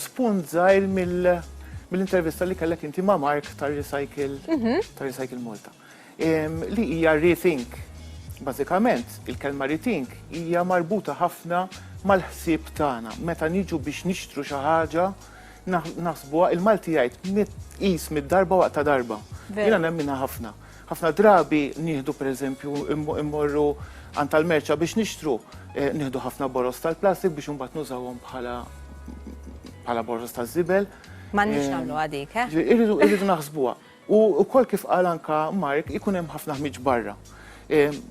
S2: spunt żgħir mill-intervista li kellek inti ma' Mark tar-Recycle Malta. li hija rethink. Bażikament, il-kelma rethink hija marbuta ħafna mal-ħsieb tagħna. Meta niġu biex nixtru xi ħaġa, naħsbuha il-Malti jgħid qis mid-darba waqt ta' darba. Jiena nemminha ħafna. Ħafna drabi nieħdu pereżempju immorru għand tal-merċa biex nixtru, eh, nieħdu ħafna boroż tal-plastik biex imbagħad nużawhom bħala bħala boroż taż-żibel. M'għandniex
S1: eh, nagħmluha dik, eh? Irridu naħsbuha.
S2: U wkoll kif qal anka Mark ikun hemm ħafna ħmieġ barra.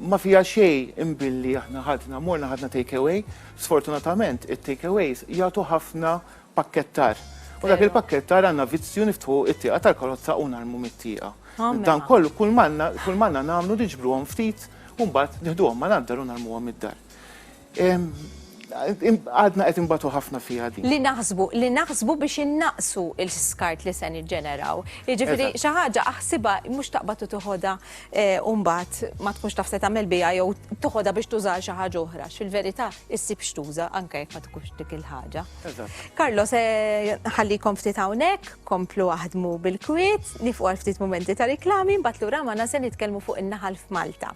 S2: Ma fiha xejn imbilli aħna ħadna, morna ħadna take away, sfortunatament it-take aways jagħtu ħafna pakkettar. U dak il-pakkettar għandna vizzju niftħu t-tieqa tal-karozza u narmu mit-tieqa. Dan kollu kull m'għandna nagħmlu niġbruhom ftit u mbagħad nieħduhom mal-għandar u narmuhom mid-dar. Għadna qed inbatu ħafna fiha din. Li naħsbu, li naħsbu
S1: biex innaqqsu l-skart li se niġġeneraw. Jiġifieri xi ħaġa aħsibha mhux taqbad u tiħodha u mbagħad ma tkunx taf se tagħmel biha jew tiħodha biex tuża għal xi ħaġa oħra. Fil-verità issib x'tuża anke jekk ma tkunx dik il-ħaġa. Carlo se nħallikom ftit hawnhekk, komplu aħdmu bil-kwiet, nieqfu għal ftit mumenti ta' riklami, mbagħad lura magħna se nitkellmu fuq in-naħal f'Malta.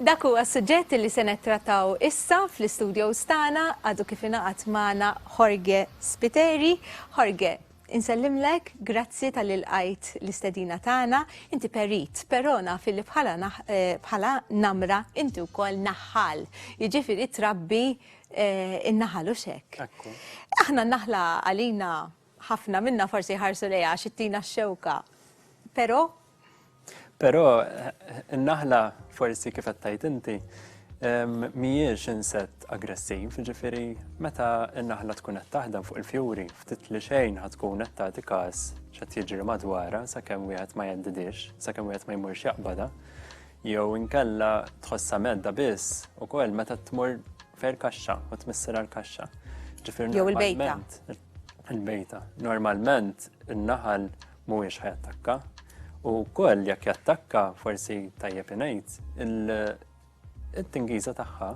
S1: Dak huwa s-suġġett li se nettrattaw issa fl-istudios tagħna għadu kif ingħaqad magħna Jorge Spiteri. Jorge, insellimlek, grazzi talli lqajt l-istedina tagħna. Inti perit, però naf illi bħala eh, bħala namra inti wkoll naħħal. Jiġifieri trabbi eh, in-naħal u x'hekk. Aħna naħla għalina Ħafna minna forsi jħarsu lejha għax ittina x-xewka. Però?
S6: Però n-naħla forsi kif qed tgħid inti mhijiex insett aggressiv, ġifiri meta n-naħla tkun qed taħdem fuq il-fjuri, ftit li xejn ħad tkun qed tagħti każ x'qed jiġri madwarha sakemm wieħed ma jendidix, sakemm wieħed ma jmurx jaqbada, jew inkella tħossha medda biss ukoll meta tmur fer kaxxa u tmissir għal kaxxa. Jew il-bejta. il-bejta. Normalment in-naħal mhuwiex ħajattakka u wkoll jekk jattakka forsi tajjeb ingħid il-tingiża tagħha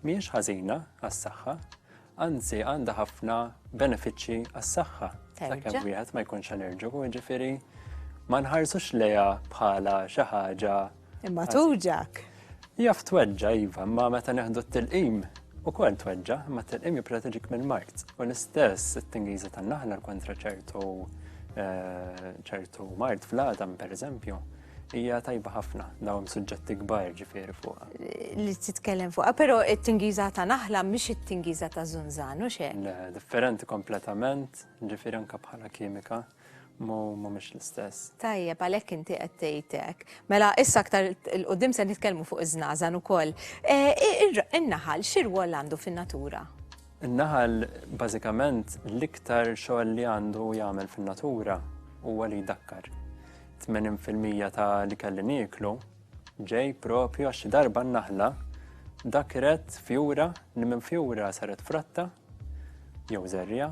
S6: mhijiex ħażina għas-saħħa, anzi għandha ħafna benefiċċji għas-saħħa. Sakemm wieħed ma jkunx allerġiku, jiġifieri ma nħarsux lejha bħala xi ħaġa Imma tuġak.
S1: Jaf
S6: tweġġa, iva, imma meta neħdu t-tilqim, u kol tweġġa, imma t-tilqim jiproteġik minn mart. U l-istess it-tingiza tan-naħla kontra ċertu eh, ċertu mart fl-għadam, per eżempju, hija tajba ħafna dawn suġġetti kbar ġifieri fuqha. Li titkellem
S1: fuqha, però it-tingiża ta' naħla mhix it-tingiża ta' żunżan u xejn. Differenti
S6: kompletament, ġifieri anke bħala kimika. Mu mhumiex l-istess. Tajjeb, għalhekk inti
S1: qed tgħid hekk. Mela issa aktar il-qudiem se nitkellmu fuq iż-żnażan ukoll. In-naħal eh, x'irwol għandu fin-natura? In-naħal
S6: bażikament l-iktar xogħol li għandu jagħmel fin-natura huwa li jdakkar. 80% ta' li kelli nieklu Ġej propju għax xi darba n-naħla dakret fjura li minn fjura saret fratta jew żerja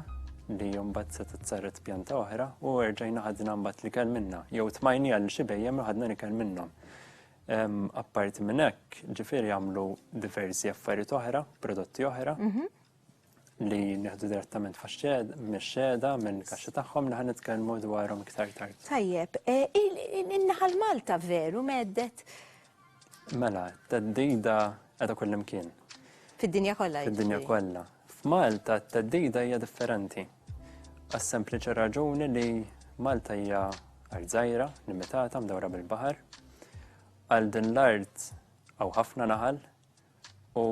S6: li mbagħad setgħet saret pjanta oħra u erġajna ħadna mbagħad li kell minna jew tmajni għal xi bejjem li ħadna li kell minnhom. Apparti minn hekk, ġifieri jagħmlu diversi affarijiet oħra, prodotti oħra. Mhm. li nieħdu direttament mix-xeda mill-kaxxa tagħhom li ħanitkellmu dwarhom iktar tard. Tajjeb, e,
S1: in-naħal Malta veru meddet.
S6: Mela, t-teddida qiegħda kullimkien. Fid-dinja
S1: kollha. Fid-dinja kollha.
S6: F'Malta t-teddida hija differenti. Għas-sempliċi raġuni li Malta hija art żgħira, limitata, mdawra bil-baħar. Għal din l-art għaw ħafna naħal, U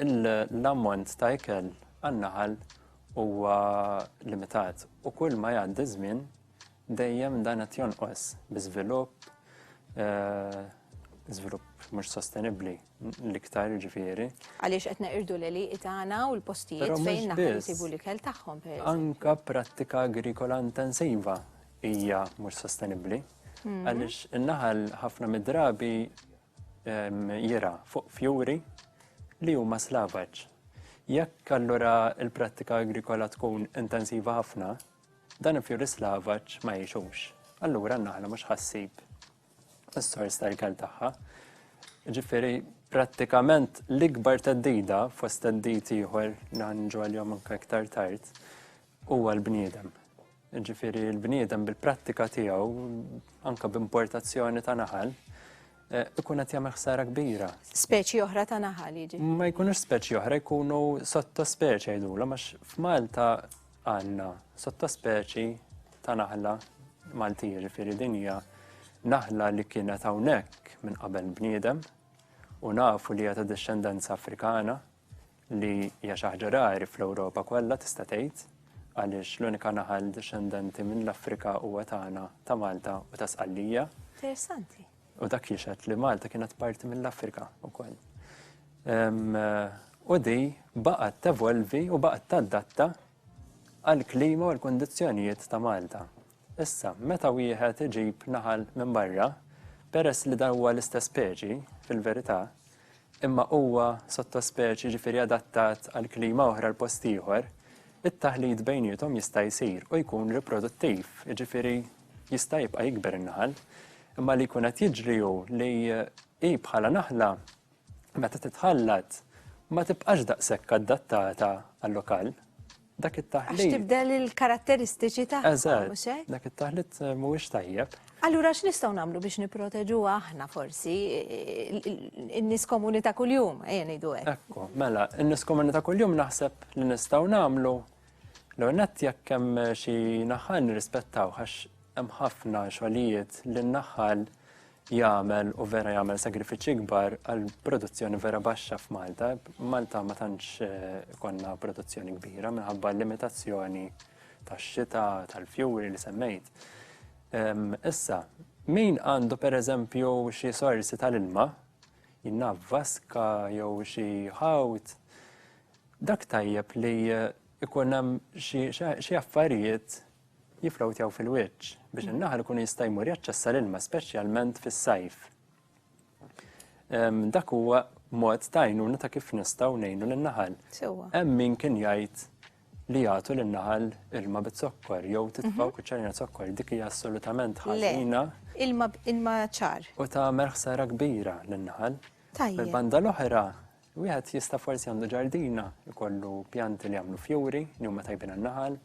S6: l-ammont ta' ikel għan-naħal huwa limitat u kull ma jgħaddi żmien dejjem dan qed jonqos bi żvilupp eh, żvilupp mhux sostenibbli l-iktar ġifieri. Għaliex qed neqirdu
S1: l-eli itana u l-postijiet fejn naħal isibu l-ikel tagħhom. Anka prattika
S6: agrikola intensiva hija mhux sostenibbli. Mhm. Għaliex in-naħal ħafna mid-drabi jirgħa fuq fjuri li huma slavaġ. Jekk allura l-prattika agrikola tkun intensiva ħafna, dan il-fjuri slavaġ ma jgħixux. Allura n-naħla mhux ħassib is-sors tal-ikel tagħha. Ġifieri prattikament l-ikbar teddida fost teddid ieħor li ħanġu għalihom anke iktar tard huwa l-bniedem. Jiġifieri l-bniedem bil-prattika tiegħu anke b'importazzjoni ta' naħal eh, ikun qed jagħmel ħsara kbira. Speċi oħra ta'
S1: naħal jiġi. Ma jkunux speċi
S6: oħra jkunu sottospeċi jgħidulhom għax f'Malta għandna sottospeċi ta' naħla Malti jiġifieri din hija naħla li kienet hawnhekk minn qabel bniedem u nafu li hija ta' discendenza Afrikana li hija xi ħaġa rari fl-Ewropa kollha tista' tgħid, għaliex l-unika naħal dixxendenti mill-Afrika huwa tagħna ta' Malta u ta' Sqallija. Interessanti.
S1: U dak jixed
S6: li Malta kienet parti mill-Afrika wkoll. U di baqgħet tevolvi u baqgħet tadatta għall-klima u l-kundizzjonijiet ta' Malta. Issa, meta wieħed iġib naħal minn barra, peress li dan huwa l-istess speċi, fil-verità, imma huwa sottospeċi jiġifieri adattat għal klima oħra l-post ieħor, it-taħlit bejniethom jista' jsir u jkun riproduttiv, jiġifieri jista' jibqa' jikber in-naħal. Imma li jkun qed jiġri hu li hi bħala naħla meta titħallat ma tibqax daqshekk adattata għal lokal. Dak it-taħlit. Għax tibdel
S1: il-karatteristiċi ta' mhux hekk? Dak
S6: it-taħlit eh, mhuwiex tajjeb. Allura x'nistgħu
S1: nagħmlu biex nipproteġu aħna forsi in-nies komuni ta' kuljum, ejja ngħidu hekk. Ekku, mela, in-nies
S6: komuni ta' kuljum naħseb li nistgħu nagħmlu l-onet jekk hemm xi naħa nirrispettaw għax Hemm ħafna xogħlijiet li n-naħal jagħmel u vera jagħmel sagrifiċċji kbar għal produzzjoni vera baxxa f'Malta. Malta ma tantx konna produzzjoni kbira minħabba l-limitazzjoni tax-xita, tal-fjuri li semmejt. Issa, min għandu pereżempju xi sorsi tal-ilma, jien naf vaska jew xi ħawd, dak tajjeb li jkun hemm xi affarijiet jifflowtjaw fil-wiċċ biex in-naħal ikun jista' jmur jaċċessa l-ilma speċjalment fis-sajf. Dak huwa mod ta' għajnuna ta' kif nistgħu ngħinu lin-naħal. Hemm min kien jgħid li jagħtu lin-naħal ilma bit-zokkor jew titfgħu mhm. kuċċarina zokkor dik hija assolutament ħażina. Ilma ilma
S1: ċar. U tagħmel ħsara
S6: kbira lin-naħal. Tajjeb. Banda
S1: l-oħra
S6: Wieħed jista' forsi għandu ġardina jkollu pjanti li jagħmlu fjuri li huma tajbin għan-naħal.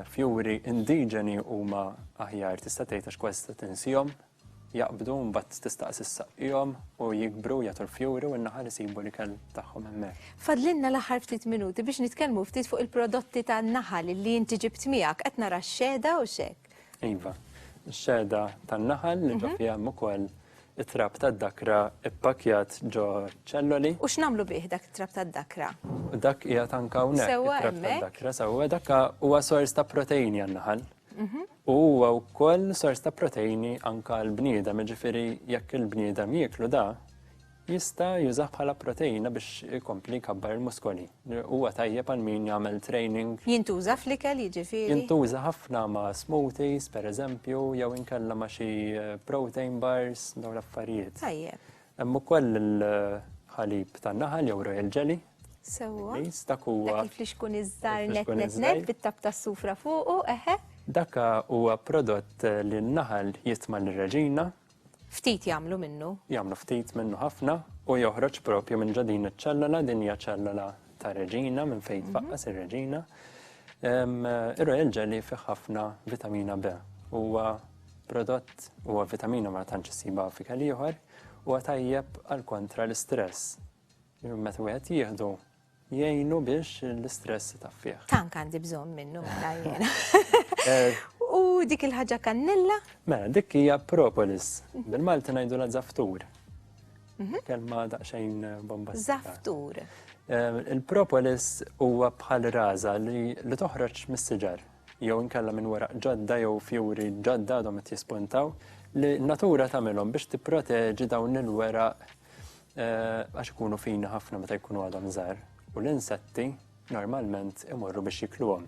S6: Fjuri indiġeni huma aħjar tista' tgħid għax kważi tista' tinsihom, jaqbdu mbagħad tistaqsi ssaqqihom u jikbru jagħtu l-fjuri u n-naħal isibu l-ikel tagħhom hemmhekk. Fadlilna l-aħħar ftit
S1: minuti biex nitkellmu ftit fuq il-prodotti tan-naħal li inti ġibt miegħek. Qed nara x-xehda u x'hekk. Iva,
S6: xeda tan-naħal li ġo mhm. fiha hemm ukoll it-trab tad-dakra ppakjat ġo ċelloli. U x'namlu bih dak
S1: it-trab tad-dakra? Dak hija
S6: tanka hawnhekk it-trab tad-dakra
S1: sewwa
S6: dak huwa sors ta' proteini għan-naħal. Mhm. U huwa wkoll sors ta' proteini anka l-bniedem, ġifieri jekk il-bniedem jieklu da, Jista' jużah bħala proteina biex ikompli jkabbar il-muskoli. Huwa tajjeb għal min jagħmel training. Jintuża fl-ikel
S1: jiġifieri? Jintuża ħafna
S6: ma' smoothies, pereżempju, jew inkella ma' xi protein bars, dawn l-affarijiet. Tajjeb. Hemm
S1: ukoll
S6: il-ħalib tan-naħal jew royal jelly. Sewwa. Bl-Ingliż,
S1: dak huwa. Dak
S6: il-flixkun iż-żgħar
S1: nett nett nett bit-tapp tas-sufra fuqu, eħe. Dak huwa
S6: prodott li n-naħal jitma' lir-reġina Ftit
S1: jagħmlu minnu. Jagħmlu ftit minnu
S6: ħafna u joħroġ propju minn ġo din iċ-ċellola, din hija ċellola ta' reġina minn fejn tfaqqas ir-reġina. Ir-royal jelly fih ħafna vitamina B. Huwa prodott huwa vitamina ma tantx issibha fi kelieħor huwa tajjeb għal kontra l-istress. Meta wieħed jieħdu Jgħinu biex l-istress itaffih. Tant għandi bżonn
S1: minnu mela jiena. Eh. U dik il-ħaġa kannella? Mela, dik hija
S6: propolis. Bil-Malti ngħidu la zaftur. Mhm. Kelma daqsxejn eh, bomba. Zaftur.
S1: Eh,
S6: il-propolis huwa bħal raza li toħroġ mis-siġar jew inkella minn wara ġodda jew fjuri ġodda għadhom qed jispuntaw li natura tagħmilhom biex tipproteġi dawn il-wera Għax ikunu fini ħafna meta jkunu għadhom żgħar u l-insetti normalment imorru biex jikluhom.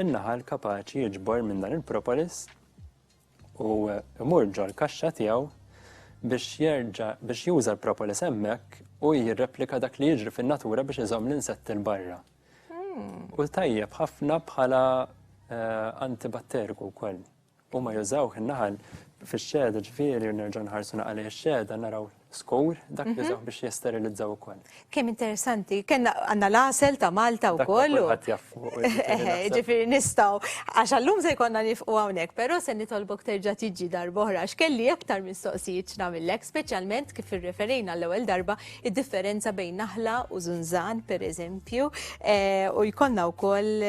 S6: In-naħal kapaċi jiġbor minn dan il-propolis u imur ġol kaxxa tiegħu biex jerġa' biex juża l-propolis hemmhekk u jirreplika dak li jiġri fin-natura biex iżomm l-insetti l-barra. Hmm. U tajjeb ħafna bħala eh, antibatteriku wkoll. Huma jużawh in-naħal fix-xehda, ġifieri nerġgħu nħarsu naqgħa lejn ix-xehda naraw skur dak li jużawh biex jesterilizzaw ukoll. Kemm interessanti,
S1: kellna għandna l-għasel ta' Malta wkoll. Dak kulħadd jaf fuq.
S6: Ġifieri
S1: nistgħu għax għallum se jkollna nifqu hawnhekk, però se nitolbok terġa' tiġi darb'oħra għax kelli aktar mistoqsijiet x'nagħmillek, speċjalment kif irreferejna l-ewwel darba id-differenza bejn naħla u żunżan pereżempju u jkollna wkoll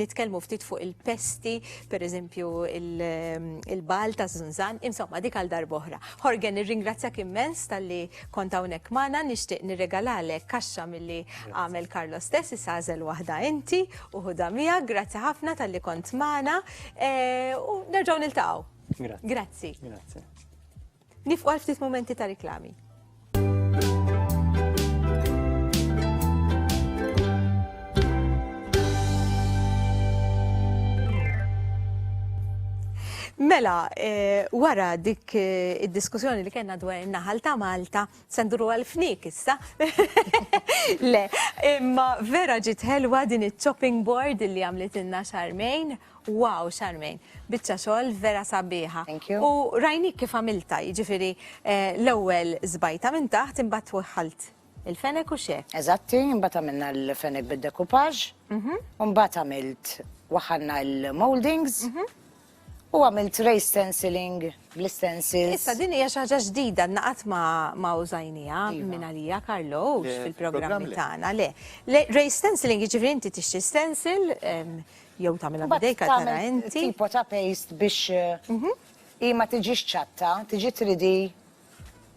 S1: nitkellmu ftit fuq il-pesti per eżempju il-bal ta' Zunzan, insomma dik għal darboħra. Horgen, nirringrazzjak immens tal-li kont hawnhekk magħna, nixtieq nirregalalek kaxxa milli għamel Karlo stess isażel waħda inti u ħuda mija, grazzi ħafna tal-li kont magħna e, u nerġgħu niltaqgħu. Grazzi. Grazzi.
S6: Nifqu
S1: għal ftit momenti ta' riklami. Mela, eh, wara dik eh, id-diskussjoni li kena dwar in-naħal ta' Malta, Se nduru għal fnik issa. Le, imma vera ġiet ħelwa din iċ-chopping board li għamlitilna Charmaine. Wow, Charmaine, biċċa xogħol vera sabiħa. Thank you. U rajnik
S3: kif għamilta,
S1: jiġifieri eh, l-ewwel żbajta minn taħt imbagħad twaħħalt il-fenek u xe. Eżatti, imbagħad għamilna
S3: l-fenek bid-dekupaġġ, imbagħad għamilt waħħalna l-moldings, U għamilt race stenciling bl-stencils. Issa din hija xi ħaġa
S1: ġdida naqat ma użajnija iva. minn għalija Karlo fil-programmi tagħna. Le, race stenciling jiġifieri inti tixtri stencil ehm, jew tagħmilha bidejka tara inti. Tipo ta' paste
S3: biex mhm. hi ma tiġix ċatta, tiġi tridi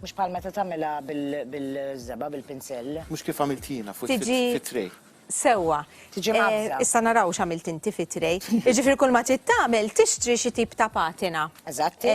S3: Mhux bħal meta tagħmilha bil-żebgħa, bil-pinsell. Mhux kif għamilt jiena
S2: fuq it-tray. Sewwa.
S1: Tiġi mgħabbża.
S3: Issa naraw x'għamilt
S1: inti fit-tray. Jiġifieri kull ma trid tagħmel tixtri xi tip ta' patina. Eżatt.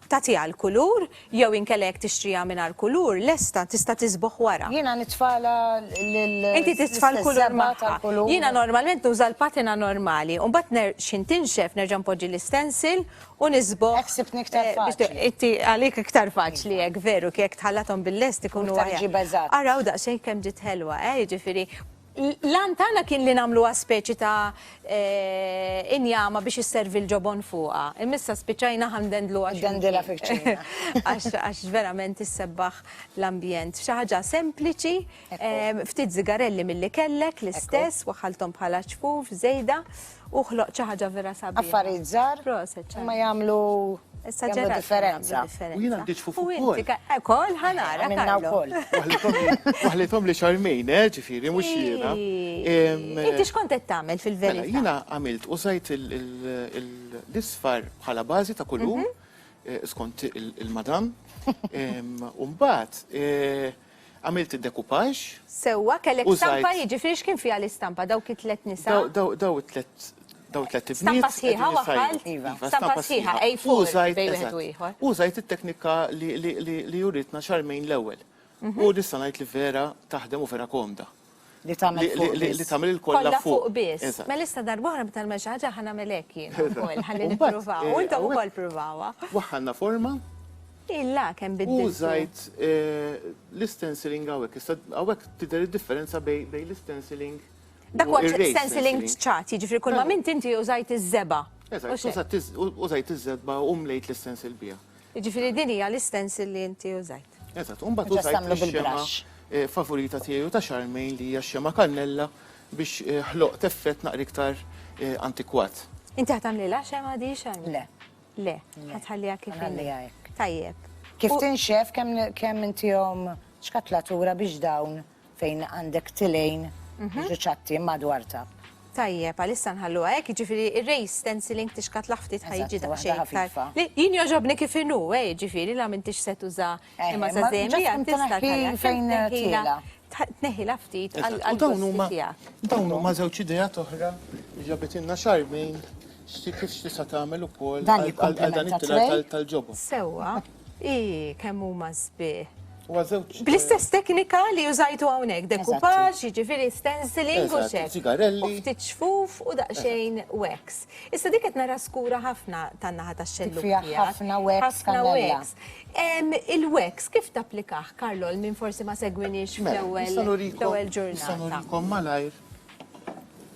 S3: Tagħtiha
S1: l-kulur, jew inkella jekk tixtriha mingħajr kulur, lesta tista' tisbugħ wara. Jiena nitfagħlha
S3: lil. Inti
S1: titfa' l-kulur magħha. Jiena normalment nuża l-patina normali, u mbagħad x'ħin tinxef nerġa' npoġġi l-istensil u nisbu. Hekk sibtni iktar faċli.
S3: Inti għalik iktar
S1: faċli hekk, veru, jekk tħallathom bil-lest ikunu
S3: aħjar.
S1: Iktar iġib eżatt. Araw daqsxejn kemm ġiet ħelwa, eh,
S3: jiġifieri
S1: l-għan tagħna kien li nagħmluha speċi ta' eh, injama biex isservi l-ġobon fuqha. Imissa spiċċajna ħandendluha. Dendilha
S3: fiċċina. Għax
S1: verament issebbaħ l-ambjent. Xi ħaġa sempliċi, eh, ftit zigarelli milli kellek l-istess, waħħalthom bħala ċfuf, żejda. U ħloq xi ħaġa vera sabiħa. Affarijiet żgħar. Proset.
S3: Ma jagħmlu jagħmlu differenza. U jiena għandi
S2: ġfufu wkoll. Ukoll ħanara.
S1: Minna wkoll.
S3: Waħlithom li
S2: xarmejn, eh, ġifieri mhux jiena. Inti
S1: x'kont qed tagħmel fil-verità? Mela, jiena
S2: għamilt
S1: użajt
S2: l-isfar bħala bażi ta' kulur mhm. eh, skont il-madam. U mbagħad eh, Għamilt id-decoupage. Sewwa, kellek
S1: stampa, jiġifieri x'kien
S2: fiha
S1: l-istampa? Dawk it-tliet nisa? Daw it-tliet
S2: daw it-tliet ibniet. Stampa sħiħa
S1: waħħalt? Iva, stampa sħiħa
S3: A4 bejn
S1: wieħed u ieħor. Użajt it-teknika
S2: li uritna Charmaine l-ewwel. U nista' ngħid li vera taħdem u vera komda. Li tagħmel fuq
S3: biss. Li tagħmel il-kollha
S2: fuq. Kollha
S3: fuq
S2: biss.
S1: Mela issa darba oħra
S2: meta nagħmel
S1: xi ħaġa ħa nagħmel hekk jien ukoll ħalli nippruvaha. U intom
S2: ukoll
S1: ppruvawha. Waħħalna forma.
S2: Illa
S1: kemm biddiltu. Użajt
S2: l-istenciling hawnhekk. Issa hawnhekk tidher id-differenza bejn l-istenciling. Dak huwa
S1: stenciling ċ-ċat, jiġifieri kull
S2: ma minn
S1: inti użajt iż-żebgħa. Eżatt,
S2: użajt iż-żebgħa u mlejt l-istencil biha. Jiġifieri din hija
S1: l-istencil li inti użajt. Eżatt, u mbagħad użajt
S2: ix-xemgħa favorita
S3: tiegħi u ta'
S2: Charmaine li hija x-xemgħa kannella biex ħloqt effett naqra iktar antikwat. Inti ħa tagħmlilha
S1: xemgħa di Charmaine? Le. Le,
S3: ħa
S1: tħalliha kif inhi. Ħa nħalliha hekk. Tajjeb.
S3: Kif
S1: tinxef
S3: kemm intihom xkatlatura biex dawn Fejn għandek tilejn mhm. ġuċatti madwar tab. Tajjeb, għalissa
S1: nħalluha hekk, jiġifieri ir-race stenciling tixkat laħftit ħajġi daqsxejn. Jien
S3: joġobni
S1: kif inhu, eh, jiġifieri la m'intix se tuża eh, imma sa żejmi għad tista'
S3: fejn
S1: tila.
S3: Tneħila
S1: ftit għal dawn huma dawn
S2: huma
S1: żewġ idea
S2: toħra li ġabitilna xarmejn xti kif xtisa tagħmel ukoll għal dan
S3: it-tila tal-ġobon.
S2: Sewwa.
S1: Ii, kemm huma sbieħ. Huwa żewġ.
S2: Bl-istess teknika
S1: li użajtu hawnhekk, decoupage, jiġifieri stenciling u xek. Sigarelli.
S2: Ftit xfuf
S1: u daqsxejn wax. Issa dik qed nara skura ħafna tan-naħa tax-xellug tiegħek. Ħafna wax.
S3: Ħafna wax.
S1: Il-wax kif tapplikah, Karlo, għal min forsi ma segwiniex fl-ewwel ġurnata? Nista' nurikom
S2: malajr.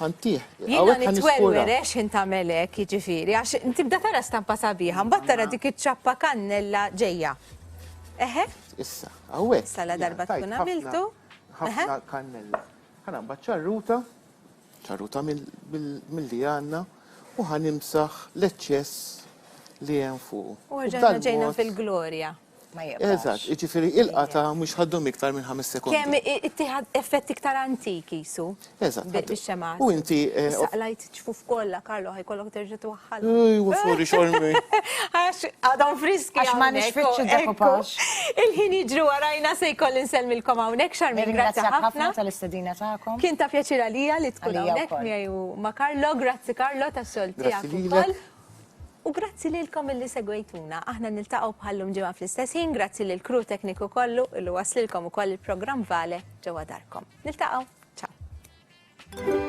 S2: ħantih. Jina
S1: nitwelwer ex
S2: ħin tagħmel
S1: hekk, jiġifieri, għax tibda tara stampa sabiħa, mbagħad tara dik iċ-ċappa kannella ġejja. Eħe? Issa,
S2: hawnhekk. Sala darba tkun
S1: għamiltu. Ħafna
S2: kannella. Ħana mbagħad ċarruta, ċarruta mill-li għandna, u ħanimsaħ l-eċċess li hemm fuq. U ġejna
S1: fil-glorja. ma jibqax. Eżatt,
S3: jiġifieri il-qatgħa
S2: mhux ħa ddum iktar minn ħames sekondi. Kemm ittih
S1: effett iktar antik qisu. Eżatt. Bix-xemgħat.
S2: U inti. Saqlajt iċ-ċfuf
S1: kollha, Karlo, ħa jkollok terġa' twaħħalhom. Ejj, wafuri xormi.
S2: Għax
S1: għadhom friski. Għax ma nixfitx
S3: id-decoupage. Il-ħin jiġri
S1: warajna se jkolli nsellmilkom hawnhekk, Charmaine, grazzi ħafna. Nirringrazzjak ħafna tal-istedina
S3: tagħkom.
S1: Kien
S3: ta' pjaċir għalija
S1: li tkun hawnhekk miegħi u
S3: ma'
S1: Karlo. Grazzi Karlo tas-xogħol tiegħek ukoll.
S2: U
S1: grazzi lilkom illi segwejtuna. Aħna niltaqgħu bħallum ġimgħa fl-istess ħin, grazzi lil crew tekniku kollu illi waslilkom ukoll il-programm Vale ġewwa darkom. Niltaqgħu. Ciao.